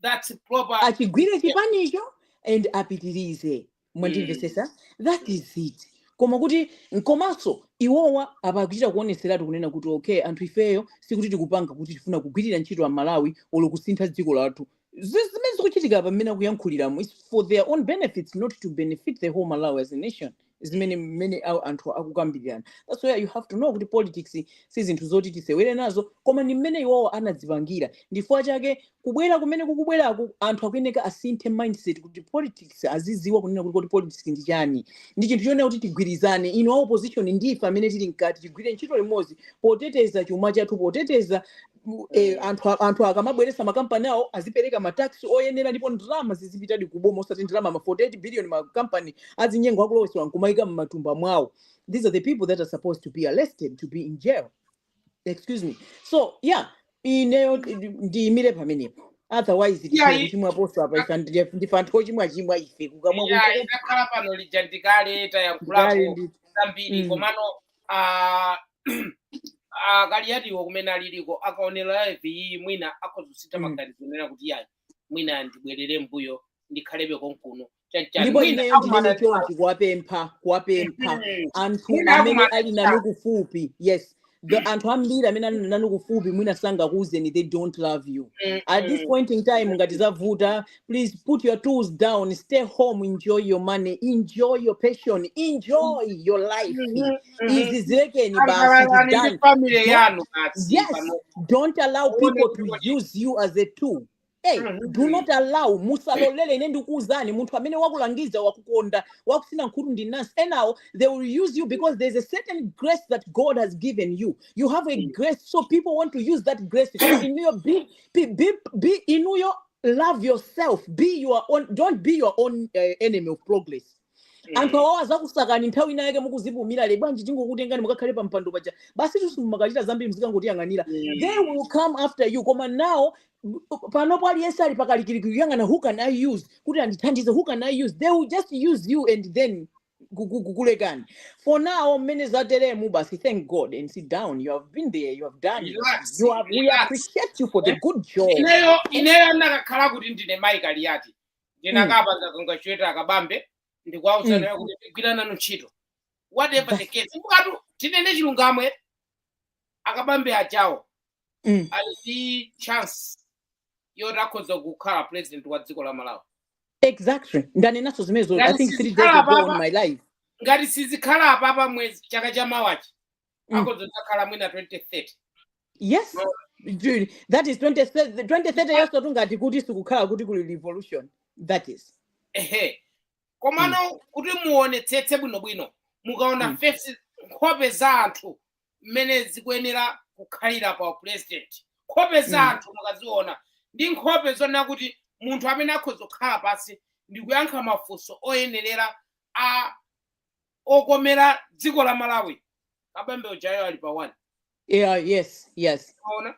that's proper achigwire chipanicho and apitirize mwandimvesesa that is it koma kuti nkomanso iwowa apa akuchita kuoneseratu kunena kuti okay anthu ifeyo sikuti tikupanga kuti tifuna kugwirira ntchito amalawi olo kusintha dziko lathu Zi- zimene zikuchitika apa mmene akuyankhuliramo is for their own benefits not to benefit the whole malawi as a nation zimene mmene awo anthu akukambirana that's why you have to know kuti politics si zinthu zoti tisewere nazo koma ndi mmene iwowo anadzipangira ndifukwa chake kubwera kumene kukubweraku anthu akuyeneka asinthe mindset kuti politics aziziwa kunena kuti politics ndi chani ndi chinthu chonena kuti tigwirizane inu a opposition ndife amene tili mkati tigwire ntchito limodzi poteteza chuma chathu poteteza mu- eh, Mm. anthu a- anthu akamabweretsa makampani awo azipereka ma tax oyenera ndipo ndalama zizipitadi kuboma osati ndalama ma 48 billion makampani achinyengo akulowetsa nkumayika mmatumba mwawo these are the people that are supposed to be arrested to be in jail excuse me so yeah ineyo ndiimire pamenepo otherwise Yeah, tikhale i- kuchimwa poso apa ife ndi- ndife anthu ochimwachimwa ife kukamwa yeah, kunja idakhala pano lija ndikale ndikale tayankhulapo ndi zambiri mm. komano ah, ah, kaliyatiwo kumene aliliko akaonera live iyi mwina akhoza kusintha Mm. maganizo kunena kuti yayi mwina ndibwerere mbuyo ndikhalebe konkuno chanichani ndipo mwina ineyo ndinene akumana chonchi kuwapempha kuwapempha Mhm. anthu mwina amene akumana ali nanu kufupi yes the anthu ambiri amene ali nanu kufupi mwina sangakuuzeni they don't love you at this Mhm. point in time ngati zavuta please put your tools down stay home enjoy your money enjoy your passion enjoy your life Mhm, mhm. izi zilekeni basi sangalalani ndi zidani family don't yanu basi yes pano. don't allow Muone people to kuti kuti. use you as a tool Hey, do Mhm. not allow musalolele ine ndikuuzani munthu amene wakulangiza wakukonda wakusina khutu ndi mnansi enawo they will use you because there's a certain grace that god has given you you have a grace so people want to use that grace inuyo be, be, be, be inuyo love yourself be your own don't be your own uh, enemy of progress mm. anthu awawo adzakusakani nthawi ina yake mukuzipumira eh bwanji tingokutengani mukakhale pa mpando paja basi ndi simumakachita zambiri muzikangotiyang'anira mm. they will come after you koma nawo panopo aliyense ali pakalikiliki kuyang'ana who can i use kuti andithandize who can i use they will just use you and then kukulekani for now mmene zateremu basi thank god and sit down you have been there you have done it relax you have, we relax appreciate you for the good job ineyo ineyo ndikanakhala kuti ndine mayi kaliyati mm. ndinakapanga kangachepe ndi a Kabambe ndikuwauza mm. kuti ndigwira nanu ntchito whatever the case mukatu tinene chilungamo a Kabambe ajawo mm. ali ndi chance yoti akhoza kukhala president wa dziko la malawi exactly ndanenanso zimenezo i ngati think three days sizikhala ago on apapa my live ngati sizikhala apapa mwezi chaka cha mawachi mm. akhoza kudzakhala mwina 2030 yes No. Ju- that is 2030 2030 yonso tungati kuti sikukhala kuti kuli revolution that is ehe mm. komano kuti muonetsetse bwinobwino mukaona Mm. fesi nkhope za anthu mmene zikuyenera kukhalira pa president nkhope za Mm. anthu mukaziona ndi nkhope zonena kuti munthu amene akhoza kukhala pansi ndi kuyankha mafunso oyenerera a okomera dziko la malawi kabambe ujayo ali pa one yeah yes yes ona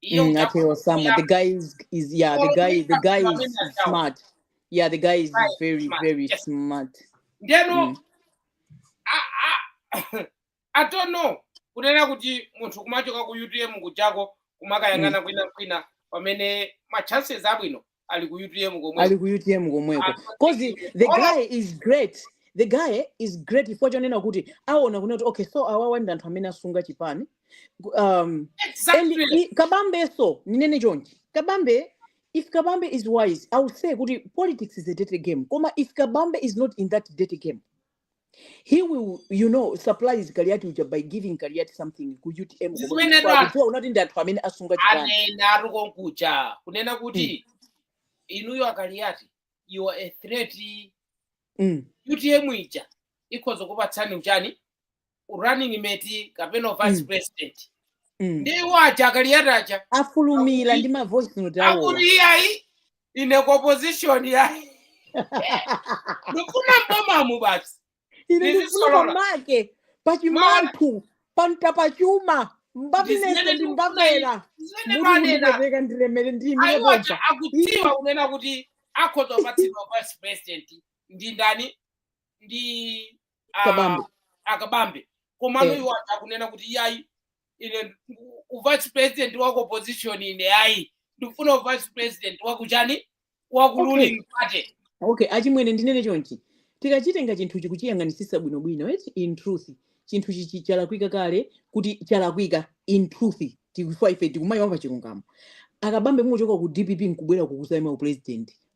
iyo Mm, ati ngakho Osama. The guy is, is yeah, the guy the guy is, is smart. Yeah, the guy is Right, very, smart, very yes. smart. ndeno Mm. a- a- i don't know kunena kuti munthu kumachoka ku utm kuchako kumakayang'ana kwina kwina pamene ma chances abwino ali ku utm ali komweko ku utm ali komweko pa cause tikiti the olo guy is great the guy is great chifukwa chonena kuti aona kunena kuti okay so awawa ndi anthu amene asunga chipani Ku- um, and exactly i- kabambenso ndinene chonchi kabambe if kabambe is wise i would say kuti politics is a dirty game koma if kabambe is not in that dirty game he will you know surprise kaliyati uja by giving kaliyati something ku utm komwe zimene chifukwa anthu akudziwa kunena kuti ndi anthu amene asunga chipani anena ati konkuja kunena mm. kuti inuyo akaliyati you are a threat mm. utm ija ikhoza kupatsani uchani running mate kapena vice Mm. president Mm. ndi iwo aja akaliyati aja afulumira ndi mavoice note awowa akuti iyayi ine ku opposition yayi ndikufuna m'bomamu basi ine ndikufuna ndizisolola. pamake pachimanthu panta pachuma mbapinese Ndizimene ndi ndikufuna mbapera zimene muti manena mundipepeka ndilemere ndiyimire ayiwo aja pompa akudziwa kunena kuti akhoza kupatsidwa vice president ndi ndani ndi ah, Kabambe. akabambe komano Eh. iwo aja akunena kuti yayi ine u- u vice president wa ku opposition ine yayi ndikufuna u vice president wakuchani waku Okay. ruling party okay achimwene ndinene chonchi tikachitenga chinthu n'kuchiyang'anisisa bwinobwino eti in truth chinthu chichi chalakwika kale kuti chalakwika in truth tikufa ife tikumayiwala chilungamo akabambe mukuchoka ku dpp nkubwera kukazaima upresident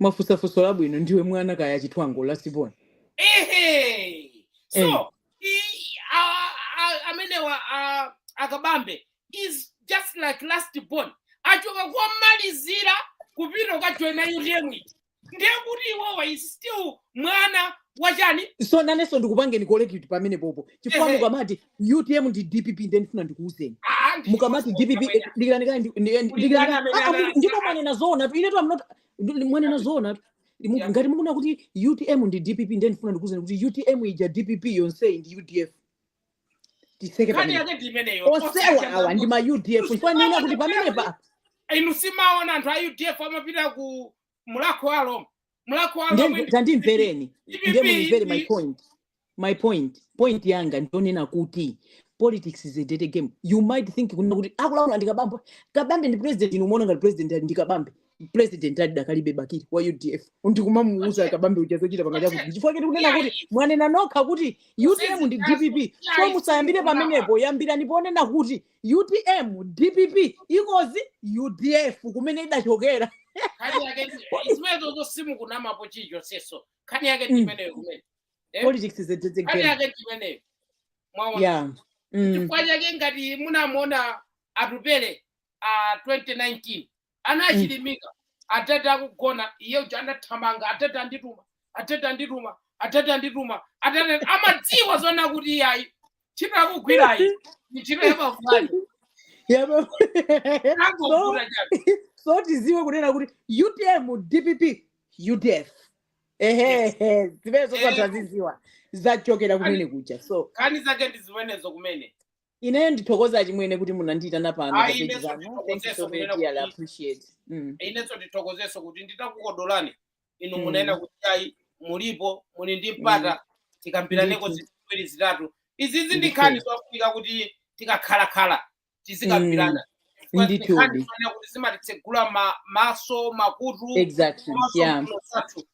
mwafunsa funso labwino ndiwe mwana kaya achithwango last born ehe so Eh. i- a- a- amenewa a- akabambe is just like last born achoka kumalizira kupita kukajoina utm eti ndiye kuti iwowa is still mwana wachani so nanenso ndikupangeni kolekiti pamenepopo chifukwa Ehe. mukamati utm ndi dpp ndiye ndifuna ndikuuzeni Ah, ndi mukamati choncho dpp amene- eh, dikirani kaye ndi- ndi- eh, Kuli dikirani ndani kaye. amene Ah, ah, anati- ndipo mwanena zoona tu inetu amnot mwanena zoona tu Mu- Yeah. ngati mukunena kuti utm ndi dpp ndiye ndifuna ndikuuzeni kuti utm ija dpp yonseyi ndi udf tiseke nkhani pamene yake ndi imeneyo onsewa awa ndi ma udf chifukwa ndiona kuti pamenepa inu simaona anthu a udf amapita ku mulakho wa alomwe mulakho wa alomwe ndi tandimvereni dpp ndiye munimvere my ndi point my point point yanga ndi yonena kuti politics is a dirty game you might think kunena kuti akulamula ndi kabambe kabambe ndi president inu umaona ngati president ali ndi kabambe president ali dakalibe bakili wa udf ndikumamuuza okay kabambe uja zochita pangati okay akuti chifukwa choti kunena kuti iyayi mwanena nokha kuti utm ndi zizinazo dpp so iyayi musayambire simukunawa pamenepo yambirani ponena kuti utm dpp ikozi udf kumene idachokera nkhani yake ndi- zimenezo simukunamapo chilichonseso nkhani yake ndi Mm. imeneyo kumene Eh? politics is a dirty nkhani game yake ndi imeneyo mwaona yeah mm. chifukwa chake ngati munamuona atupele a 2019 ana Mm. achilimika atete akugona iye uja anathamanga atete andituma atete andituma atete andituma atete amadziwa zona kuti iyayi ntchito akugwirayi ni ntchito yamavulani Yaba- angovuta chabe so tiziwe kunena kuti utm dpp udf ehehe zimenezo atha ziziwa zachokera kumene kuja so nkhani zake ndi zimenezo kumene ineyo ndithokoza achimwene kuti munandiitana pano pa Ayi, page inenso pano thank you ndithokozeso so very kunena dearly kuti appreciate mm. inenso ndithokozeso kuti nditakukodolani inu Mm. munanena kuti ayi mulipo muli ndi mpata tikambiraneko Ndithu. zinthu ziwiri zitatu izizi ndi nkhani Ndithu. zofunika kuti tikakhalakhala tizikambirana Chifukwa ndi Ndithu. nkhani zofunika koti zimatitsegula ma- maso makutu exactly komanso yeah mphuno zathu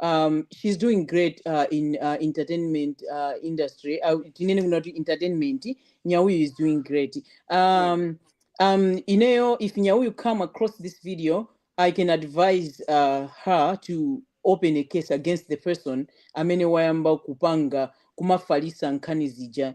um, she's doing great uh, in uh, entertainment uh, industry uh, tinene kuna kuti entertainment nyauyu is doing great um, um, ineyo if nyauyu come across this video i can advise uh, her to open a case against the person amene wayamba kupanga kumafalisa nkhani zija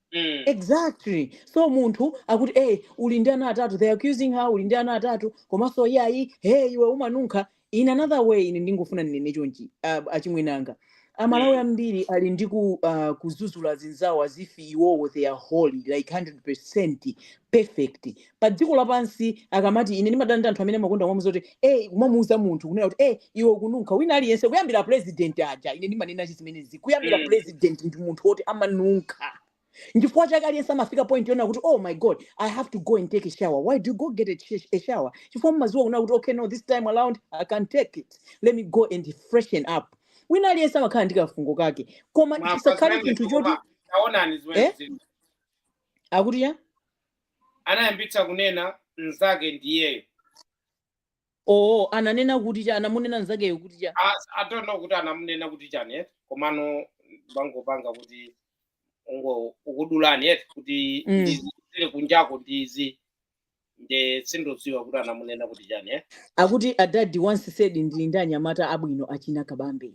mm. exactly so munthu akuti hey, uli ndi ana atatu they accusing her uli ndi ana atatu komanso iyayi hey iwe umanunkha in another way ine ndingofuna ndinene chonchi uh, achimwenanga amalawi mm. ambiri ali ndi ku, uh, kuzuzula zinzawo as if iwowo they are holy like 100 percent perfect padziko lapansi akamati ine ndimadana ndi anthu amene amakonda kumamuuza kuti eh kumamuuza munthu kunena kuti eh iwe ukununkha wina aliyense kuyambira president aja ine ndimanena chi zimenezi kuyambira Mm. president ndi munthu woti amanunkha nchifukwa chake aliyense amafika point yonena kuti oh my god i have to go and take a shower why do you go take a, ch- a shower chifukwa mumaziwa kunena kuti okay no this time around i can take it let me go and freshen up wina aliyense amakhala ndi kafungo kake koma mwamva chisakhale zimenezi chinthu choti koma taonani eh zimenezi akuti ya anayambitsa kunena mnzake ndiyeyo oo ananena kuti cha anamunena mnzakeyo kuti cha As- I don't know kuti anamunena kuti chani eti komano bangopanga kuti ungo ukudulani eti kuti Mm. ndizi zili kunjako ndizi nde sindodziwa kuti anamunena kuti chani eti akuti a dad once said ndili ndi anyamata abwino achina kabambe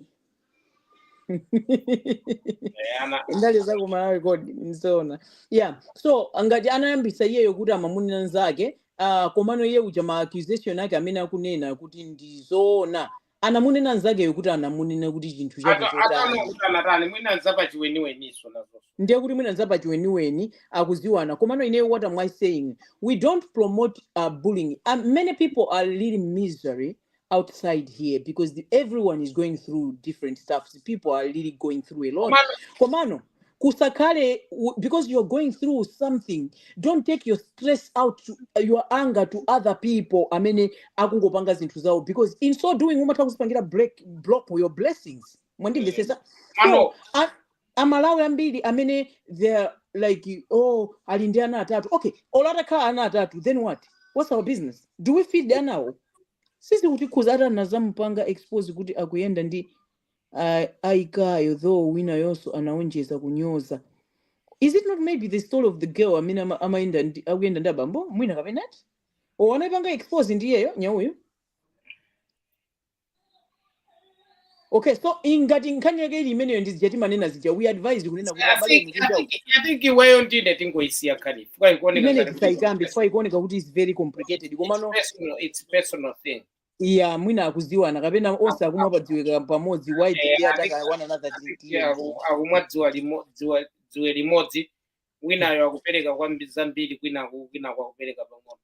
Eh, ana- ndale za ku malawi kodi mzona yeah so ngati anayambisa iyeyo kuti amamunena nzake uh, komano iye uja ma accusation ake amene akunena kuti ndi zoona anamunena nzakeyo kuti anamunena kuti chinthu chake ata- atana chotani kuti anatani mwina zapachibwenziso nazo ndiye kuti mwina nzapachibwenzi akuziwana komano ineyo what am i saying we don't promote uh, bullying Uh, many people are really misery outside here because the, everyone is going through different stuff the people are really going through a lot komano kusakhale u- because you're going through something don't take your stress out to, your anger to other people amene akungopanga zinthu zawo because in so doing umatha kuzipangira break block your blessings mwandimvetsetsa so mano a- amalawi ambiri amene they are like oh ali ndi ana atatu okay olo atakhala ana atatu then what what's our business do we feed anawo? Sizikutikhudza ati anadzamupanga expose kuti akuyenda ndi ah, Aikayo though winayonso anaonjeza kunyoza is it not maybe the story of the girl amene ama- amayenda ndi- akuyenda ndi abambo mwina kapena ndiye anaipanga expose ndiyeyo nyauyo okay so ingati nkhani yake ili imeneyo ndi zija timanena zija we advise kunena kuti I abale think- inu I kunja think- I think iweyo ndi ine tingoisiya nkhani chifukwa ikuoneka imene ngati kuti tisaikambe chifukwa ikuoneka kuti is very complicated komano it's personal, it's personal thing. ya mwina akuziwana kapena onse akumwa padziwe kamodzi why did Eh, they I attack think- one another I think, yeah, aku- akumwa dziwa limo- dziwa- dziwe limodzi winayo akupereka kwambi- zambiri kwinaku winayu akupereka pang'ono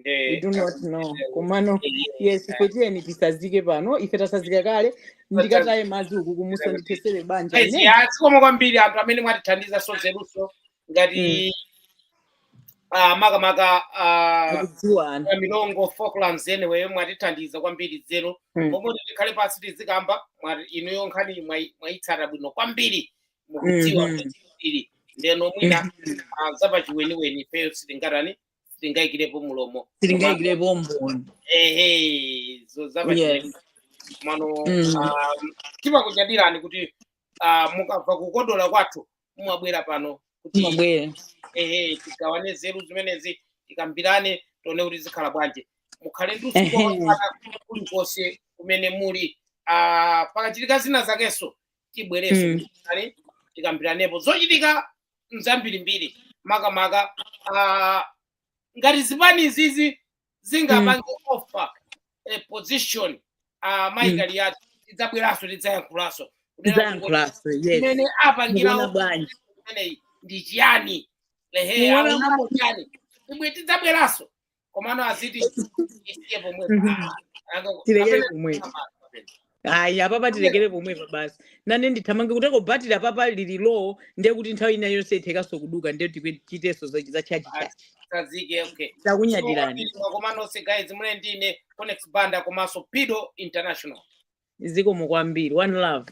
we do not know komano yes ife tiyeni tisazike pano ife tasazika kale ndikataye madzi uku kumudzi ndithesere banja Yes, ine ya, zikomo kwambiri anthu amene mwatithandiza zaluso ngati ah, makamaka ah, akudziwa anthu a Milongo falklands enawo mwatithandiza kwambiri zedi Mm. pomwe tikhale pansi tizikamba mwa- inuyo nkhani mwai- mwaitsata bwino kwambiri mukudziwa Mhm. kwambiri ndeno mwina ah, zapachiweniweni ifeyo sitingatani sitingayikirepo mlomo komanso sitingayikirepo umboni ehe zo yes zapachilendo komano mm. um, timakunyadirani kuti uh, mukamva kukodola kwathu mumabwera pano kuti mubwere ehe tigawane nzeru zimenezi tikambirane tione kuti zikhala bwanji mukhale ndi usiku ehe wabata kulikonse kumene muli uh, pakachitika zina zakenso tibwerenso Mm. kale tikambiranepo zochitika zambirimbiri makamaka ah, ngati zipani izizi zingapange offer position ah, Mm. Michael wathu tidzabweranso tidzayankhulanso Kunena kuti tidzayankhulanso yes mmene mukuona apangirawo bwanji imeneyi ndi chiyani ehe Mukuona aonapo chiyani inu tidzabweranso komano azitiisiye pomwepo Mhm. Ah, ah, aka- tilekere kapena- pomwepo ayi apapa tilekere pomwepo basi nane ndithamange kuteko batiri apapa lili low ndiye kuti nthawi ina yonse ithakanso kuduka ndiye tichitenso za za chachi Ah, chachi tsazike okay takunyadirani Zikomo nonse guys munali ndi ine conex banda komanso pido international zikomo kwambiri one love